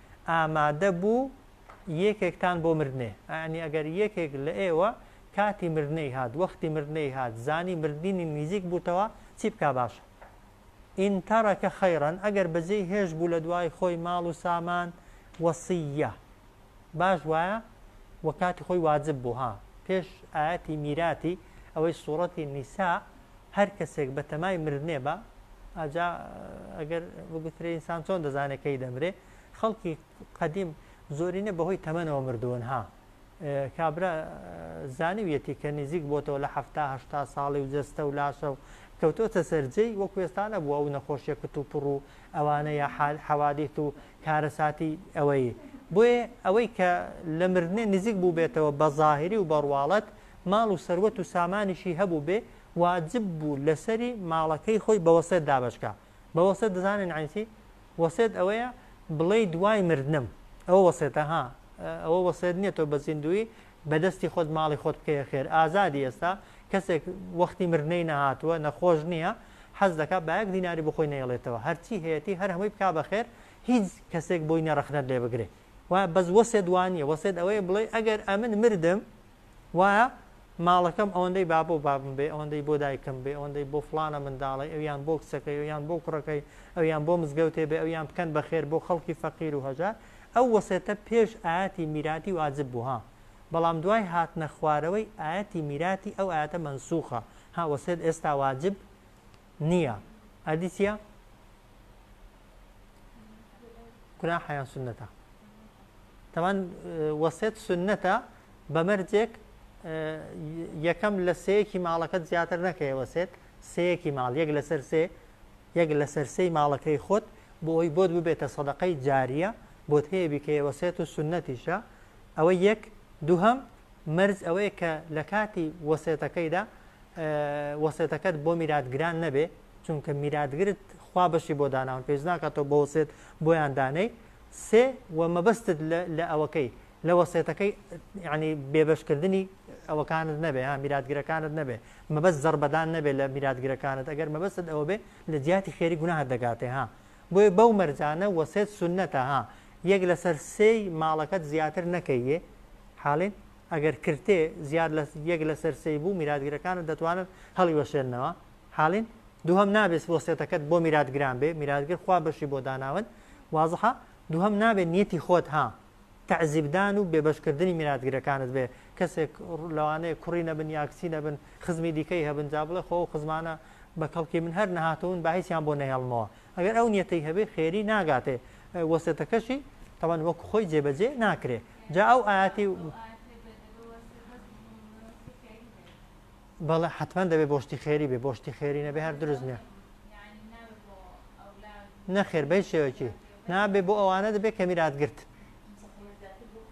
ئامادە بوو یەکێکتان بۆ مردنێ، یەعنی ئەگەر یەکێک لە ئێوە کاتی مردنێی هات، وەختی مردنێی هات، زانی مردنی نیزیک بووتەوە، چی بکا باشە؟ ان ترک خیرا، ئەگەر بەجێی هێشت بوو لە دوای خۆی ماڵ و سامان، وصیە، باش وایە، وە کاتی خۆی واجب بوو، ها، پێش ئایەتی میراتی، ئەوەی سوڕەتی نیساء، هەر کەسێک بەتەمای مردنێ با ئاجا ئەگەر بگوترێ ئینسان چۆن دەزانێت کەی دەمرێ خەڵکی قەدیم زۆرینە بەهۆی تەمەنەوە مردوون ها کابرا زانیویەتی کە نزیک بۆتەوە لە هەهتا ساڵی و جەستە و لاشە و کەوتۆتە سەررجەی وە کوێستانە بووە و نەخۆشیە کت و پڕ و ئەوانە یا حال حەوادیت و کارەساتی ئەوەی بۆیە ئەوەی کە لە مردنێ نزیک بوو بێتەوە بە ظاهری و بەڕواڵەت ماڵ و سەروەت و سامانیشی هەبوو بێ واجب بوو لەسەری ماڵەکەی خۆی بە وەسێت دابەشکا بە وەسێت دەزانن یانی چی وەسێت ئەوەیە بڵێی دوای مردنم ئەوە وەسێتە ها ئەوە وەسێت نییە تۆ بە زیندوی بەدەستی خۆت ماڵی خۆت بکەیە خێر ئازادی ئێستا کەسێک وەختی مردنەی نەهاتووە نەخۆش نییە حەز دەکا بایەک دیناری بخۆی نەیڵێتەوە هەرچی هەیەتی هەر هەمووی بکا بەخێر هیچ کەسێک بۆی نەڕەخنەت لێ بگرێت وایە بەس وەسێت وانیە وەسێت ئەوەیە بڵێ ئەگەر ئەمن مردم وایە ماڵەکەم ئەوەندەی بابە و بابم بێ ئەوەندەی بۆ دایکم بێ ئەوەندەی بۆ فلانە منداڵی ئەویان بۆ کچەکەی ئەویان بۆ کوڕەکەی ئەویان بۆ مزگەوتێ بێ ئەویان بکەن بە خێر بۆ خەڵکی فەقیر و هەژار ئەو وەسێتە پێش ئاەتی میراتی واجب بوو ها بەڵام دوای هاتنە خوارەوەی ئاەتی میراتی ئەو ئاەتە منسوخە ها وەسێت ئێستا واجب نییە ئەدی چیە؟ گوناحە یان سنەتە تەمان وەسێت سنەتە بە مەرجێک یەکەم لە سەیەکی ماڵەکەت زیاتر نەکەی وەسێت سەیەکی ماڵ یەک لەسەر سێ یەک لەسەر سەی ماڵەکەی خۆت بۆ ئەوی بۆت ببێتە سەدەقەی جاریە بۆت هەیە بیکەی وەسێت و سنەتیشە ئەوە یەک دووهم مەرز ئەوەیە کە لە کاتی وەسێتەکەیدا وەسێتەکەت بۆ میراتگران نەبێ چونکە میراتگرت خوا بەشی بۆ داناون پێویست ناکات تۆ بە وەسێت بۆیان دانەی سێ و مەبەستت لە ئەوەکەی لە وەسێتەکەی ینی بێبەشکردنی ئەوەکانت نەبێ ها میراتگرەکانت نەبێ مەبەست زەربەدان نەبێت لە میراتگرەکانت ئەگەر مەبەست ئەوە بێ لە جیاتی خێری گوناه دەگاتێ ها بۆیە بەو مەرجانە وەسێت سنەتە ها یەک لەسەر سێی ماڵەکەت زیاتر نەکەیە حاڵین ئەگەر کرتێ زیاد لە یەک لەسەر سێی بوو میراتگرەکانت دەتوانن هەڵی وەشێنەوە حاڵین دووهەم نابێت وەسێتەکەت بۆ میرات گران بێ میراتگر خوا بەشی بۆ داناون وازحە دووهەم نابێت نیەتی خۆت ها تعزیبدان و بێبەشکردنی میراتگرەکانت بێ کەسێک لەوانەیە کوڕی نەبن یاکچی نەبن خزمی دیکەی هەبن جا بڵێ خۆ خزمانە بە کەڵکی من هەر نەهاتەون با هیچیان بۆ نەهێڵمەوە ئەگەر ئەو نیەتەی هەبێ خێری ناگاتێ وەسێتەکەشی تەوان وەک خۆی جێبەجێ ناکرێ جا ئەو ئاتی بەڵێ حەتمەن دەبێ بۆ شتی خێری بێ بۆ شتی خێری نەبێ هەر دروست نییە نەخێر بەی شێوەکی نابێ بۆ ئەوانە دەبێت کە میرات گرت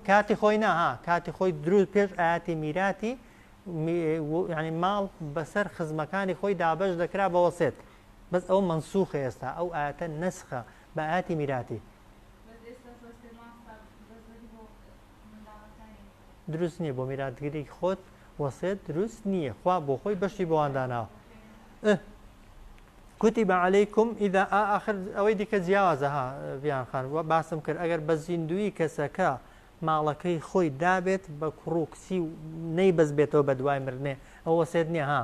کاتی خۆی ناها کاتی خۆی دروست پێش ئاتی میراتی ینی ماڵ بەسەر خزمەکانی خۆی دابش دەکرا بە وەسێت بەس ئەو منسوخە ئێستا ئەو ئاەتە نسخە بە ئاتی میراتی دروست نیە بۆ میراتگری خۆت وەسێت دروست نیە خوا بۆ خۆی بەشی بۆوان داناوە کوتی بە عەلەیکم ئیدا ئاخر ئەوەی دیکە جیاوازە ها بیان خان وە باسم کرد ئەگەر بە زیندوی کەسەکە ماڵەکەی خۆی دابێت بە کوڕ و کچی و نەی بەس بێتەوە بە دوای مرنێ ئەو وەسێت نیە ها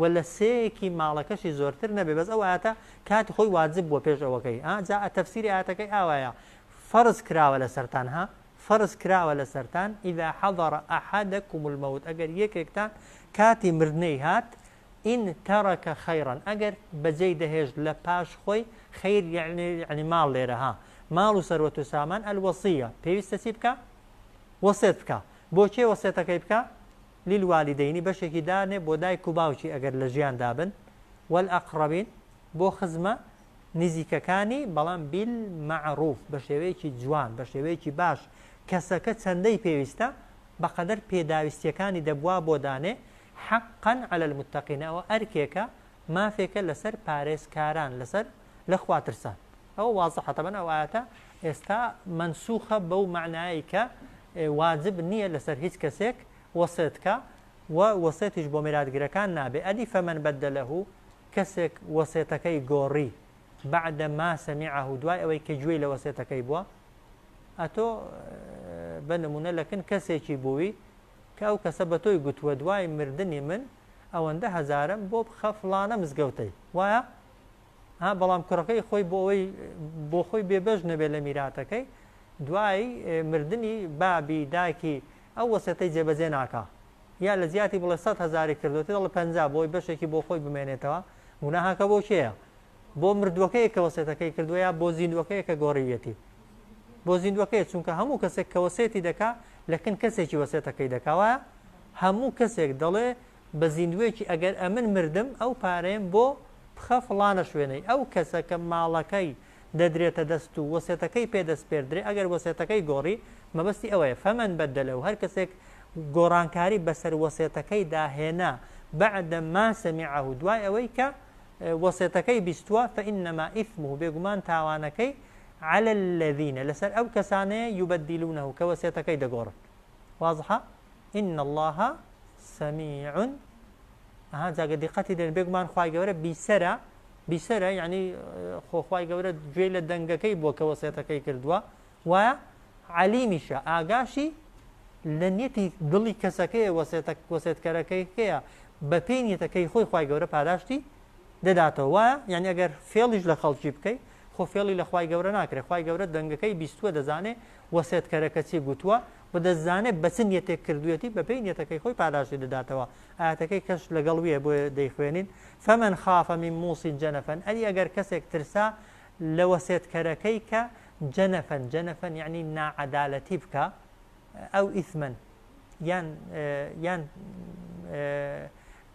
وە لە سێیەکی ماڵەکەشی زۆرتر نەبێ بەس ئەو ئایەتە کاتی خۆی واجب بووە پێش ئەوەکەی ها جا تەفسیری ئایەتەکەی ئاوایە فەرز کراوە لەسەرتان ها فەرز کراوە لەسەرتان اذا حضر احدكم الموت ئەگەر یەکێکتان کاتی مردنەی هات ان ترك خيرا ئەگەر بەجێی دەهێشت لە پاش خۆی خیر یعنی یعنی ماڵ لێرە ها ماڵ و سەروەت و سامان الوصیە پێویستە چی بکە وەسێت بکە بۆ کێ وەسێتەکەی بکە للوالدینی بەشێکی دانێ بۆ دایک و باوکی ئەگەر لە ژیاندا بن، والاقربین بۆ خزمە نزیکەکانی بەڵام بالمعروف بە شێوەیەکی جوان بە شێوەیەکی باش کەسەکە چەندەی پێویستە بەقەدەر پێداویستیەکانی دەبوا بۆ دانێ حقا علی المتقین ئەوە ئەرکێکە مافێکە لەسەر پارێزکاران لەسەر لە خوا ترسان ئەوە وازحە تەبەن ئەو ئاەتە ئێستا منسوخە بەو معنایی کە واجب نییە لەسەر هیچ کەسێک وەسێتکە و وەسێتیش بۆ میراتگرەکان نابێ ئەدی فەمەن بەدە لە هو کەسێک وەسێتەکەی گۆڕی بعد ما سمعه دوای ئەوەی کە گوێی لە وەسێتەکەی بووە ئەتۆ بە نمونە لەکن کەسێکی بووی کە ئەو کەسە بە تۆی گوتووە دوای مردنی من ئەوەندە هەزارم بۆ بخە فلانە مزگەوتەی وایە ها بەڵام کوڕەکەی خۆی بۆ ئەوەی بۆ خۆی بێبەش نەبێت لە میراتەکەی دوای مردنی بابی داکی ئەو وەسێتەی جێبەجێ ناکە یا لە جیاتی بڵێ سە هزاری کردوێتی دەڵە پ بۆی بەشێکی بۆ خۆی بمێنێتەوە گوناهاکە بۆ کێە بۆ مردووەکەی کە وەسێتەکەی کردووە یا بۆ زیندوەکەی کە گۆڕیویەتی بۆ زیندوەکەی چونکە هەموو کەسێک کە وەسێتی دەکا لەکن کەسێکی وەسێتەکەی دەکاوە هەموو کەسێک دەڵێ بە زیندووێکی ئەگەر ئەمن مردم ئەو پارەیەم بۆ بخە فڵانە شوێنەی ئەو کەسە کە ماڵەکەی دەدرێتە دەست و وەسێتەکەی پێ دەسپێردرێ ئەگەر وەسێتەکەی گۆڕی مەبەستی ئەوەیە فمن بدله هەر کەسێک گۆڕانکاری بەسەر وەسێتەکەی داهێنا بعد ما سمعه دوای ئەوەی کە وەسێتەکەی بیستووە فإنما إثمه بێگومان تاوانەکەی على الذين لەسەر ئەو کەسانەیە یبدلونه کە وەسێتەکەی دەگۆڕن وازحە ان اللە سمیع ئەها جاگە دیقەتی دێن بێگومان خی گەورە بیسەرە بیسەرە یعنی خۆخوای گەورە گوێ لە دەنگەکەی بووە کە وەسێتەکەی کردووە وایە علیمیشە ئاگاشی لە نیەتی دڵی کەسەکەی وەسێتە وەسێتکەرەکەی هەیە بە پێی نیەتەکەی خۆی خی گەورە پاداشتی دەداتەوە وایە یعنی ئەگەر فێڵیش لە خەڵکی بکەیت خۆ فێڵی لە خی گەورە ناکرێت خی گەورە دەنگەکەی بیستوە دەزانێت وەسێتکەرەکە چی گوتووە و دەشزانێت بە چ نیەتێک کردوویەتی بەپێی نیەتەکەی خۆی پاداشتی دەداتەوە، ئایەتەکەی کەش لەگەڵ ویە بۆیە دەیخوێنین، فمن خاف من موص جنفا ئەری ئەگەر کەسێک ترسا لە وەسێتکەرەکەی کە جنفا جنفا یەعنی ناعەدالەتی بکا ئەو ئیثما یان یان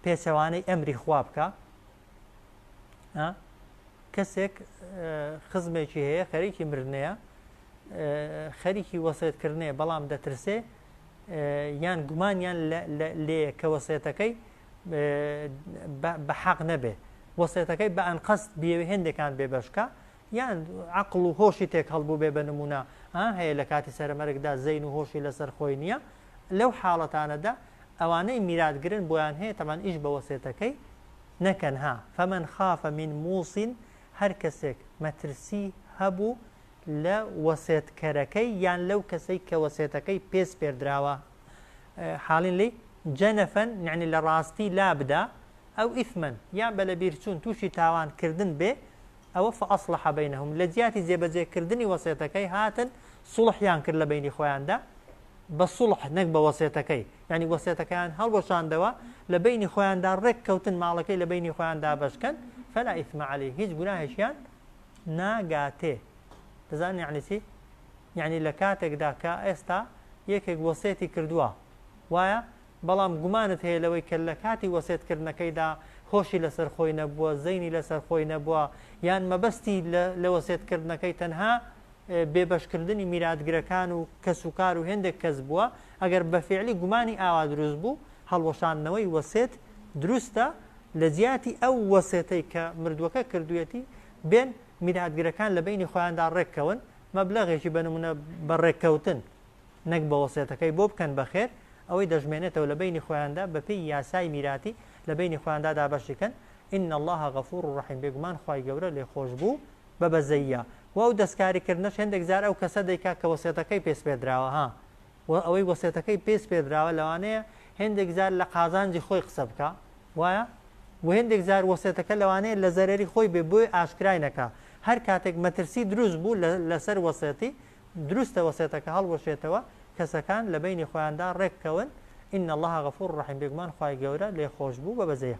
پێچەوانەی ئەمری خوا بکا، کەسێک خزمێکی هەیە خەریکی مردنەیە خەریکی وەسێتکردنێ بەڵام دەترسێ یان گومانیان لێ کە وەسێتەکەی بە حەق نەبێ وەسێتەکەی بە ئەنقەست بێوێ هێندێکان بێ بەشکە یان عقل و هۆشی تێک هەڵبوو بێ بە نمونە هەیە لە کاتی سەرمەرگدا زەین و هۆشی لەسەر خۆی نییە لەو حاڵەتانەدا ئەوانەی میراتگرن بۆیان هەیە تەبعەن ئیش بە وەسێتەکەی نەکەن ها، فمن خاف من موص هەر کەسێک مەترسی هەبوو لە وەسێتکەرەکەی یان لەو کەسەی کە وەسێتەکەی پێ سپێردراوە حاڵین لێی جەنفا یعنی لە ڕاستی لابدا ئەو ئیثما یان بە لەبیرچوون تووشی تاوان کردن بێ ئەوە فاصلح بینهم لە جیاتی جێبەجێ کردنی وەسێتەکەی هاتن صوڵحیان کرد لە بەینی خۆیاندا بە صوڵح نەک بە وەسێتەکەی یانی وەسێتەکەیان هەڵوەشاندەوە لە بەینی خۆیاندا ڕێک کەوتن ماڵەکەی لە بەینی خۆیان دابەشکەن فلا ئیثم علی هیچ گوناهێکیان ناگاتێ دەزان یعنی چی یعنی لە کاتێکدا کە ئێستا یەکێک وەسێتی کردووە وایە بەڵام گومانت هەیە لەوەی کە لە کاتی وەسێت کردنەکەیدا هۆشی لەسەر خۆی نەبووە، زەینی لەسەر خۆی نەبووە، یان مەبەستی لە وەسێت کردنەکەی تەنها بێ بەش کردنی میراتگرەکان و کەس و کار و هێندێک کەس بووە، ئەگەر بە فیعلی گومانی ئاوا دروست بوو، هەڵوەشاندنەوەی وەسێت دروستە، لە جیاتی ئەو وەسێتەی کە مردووەکە کردوویەتی، بێن میراتگرەکان لە بەینی خۆیاندا ڕێک کەون، مەبلەغێکی بە نموونە بە ڕێککەوتن، نەک بە وەسێتەکەی بۆ بکەن بە خێر، ئەوەی دەژمێنێتەوە لە بەینی خۆیاندا بە پێی یاسای میراتی لە بەینی خۆیاندا دابەشی کەن، ان اللە غفور رحیم بێگومان خوای گەورە لێخۆشبوو بە بەزەییە، وە ئەو دەستکاری کردنەش هێندێک جار ئەو کەسە دەیکا کە وەسێتەکەی پێ سپێردراوە ها وە ئەوەی وەسێتەکەی پێی سپێردراوە لەوانەیە هێندێک جار لە قازانجی خۆی قسە بکا وایە؟ وە هێندێک جار وەسێتەکە لەوانەیە لە زەرەری خۆی بێ بۆی ئاشکرای نەکا هەر کاتێک مەترسی دروست بوو لە لەسەر وەسێتی دروستە وەسێتەکە هەڵوەشێتەوە کەسەکان لە بەینی خۆیاندا ڕێک کەون ان اللە غفور رحیم بێگومان خوای گەورە لێخۆشبوو بە بەزەیە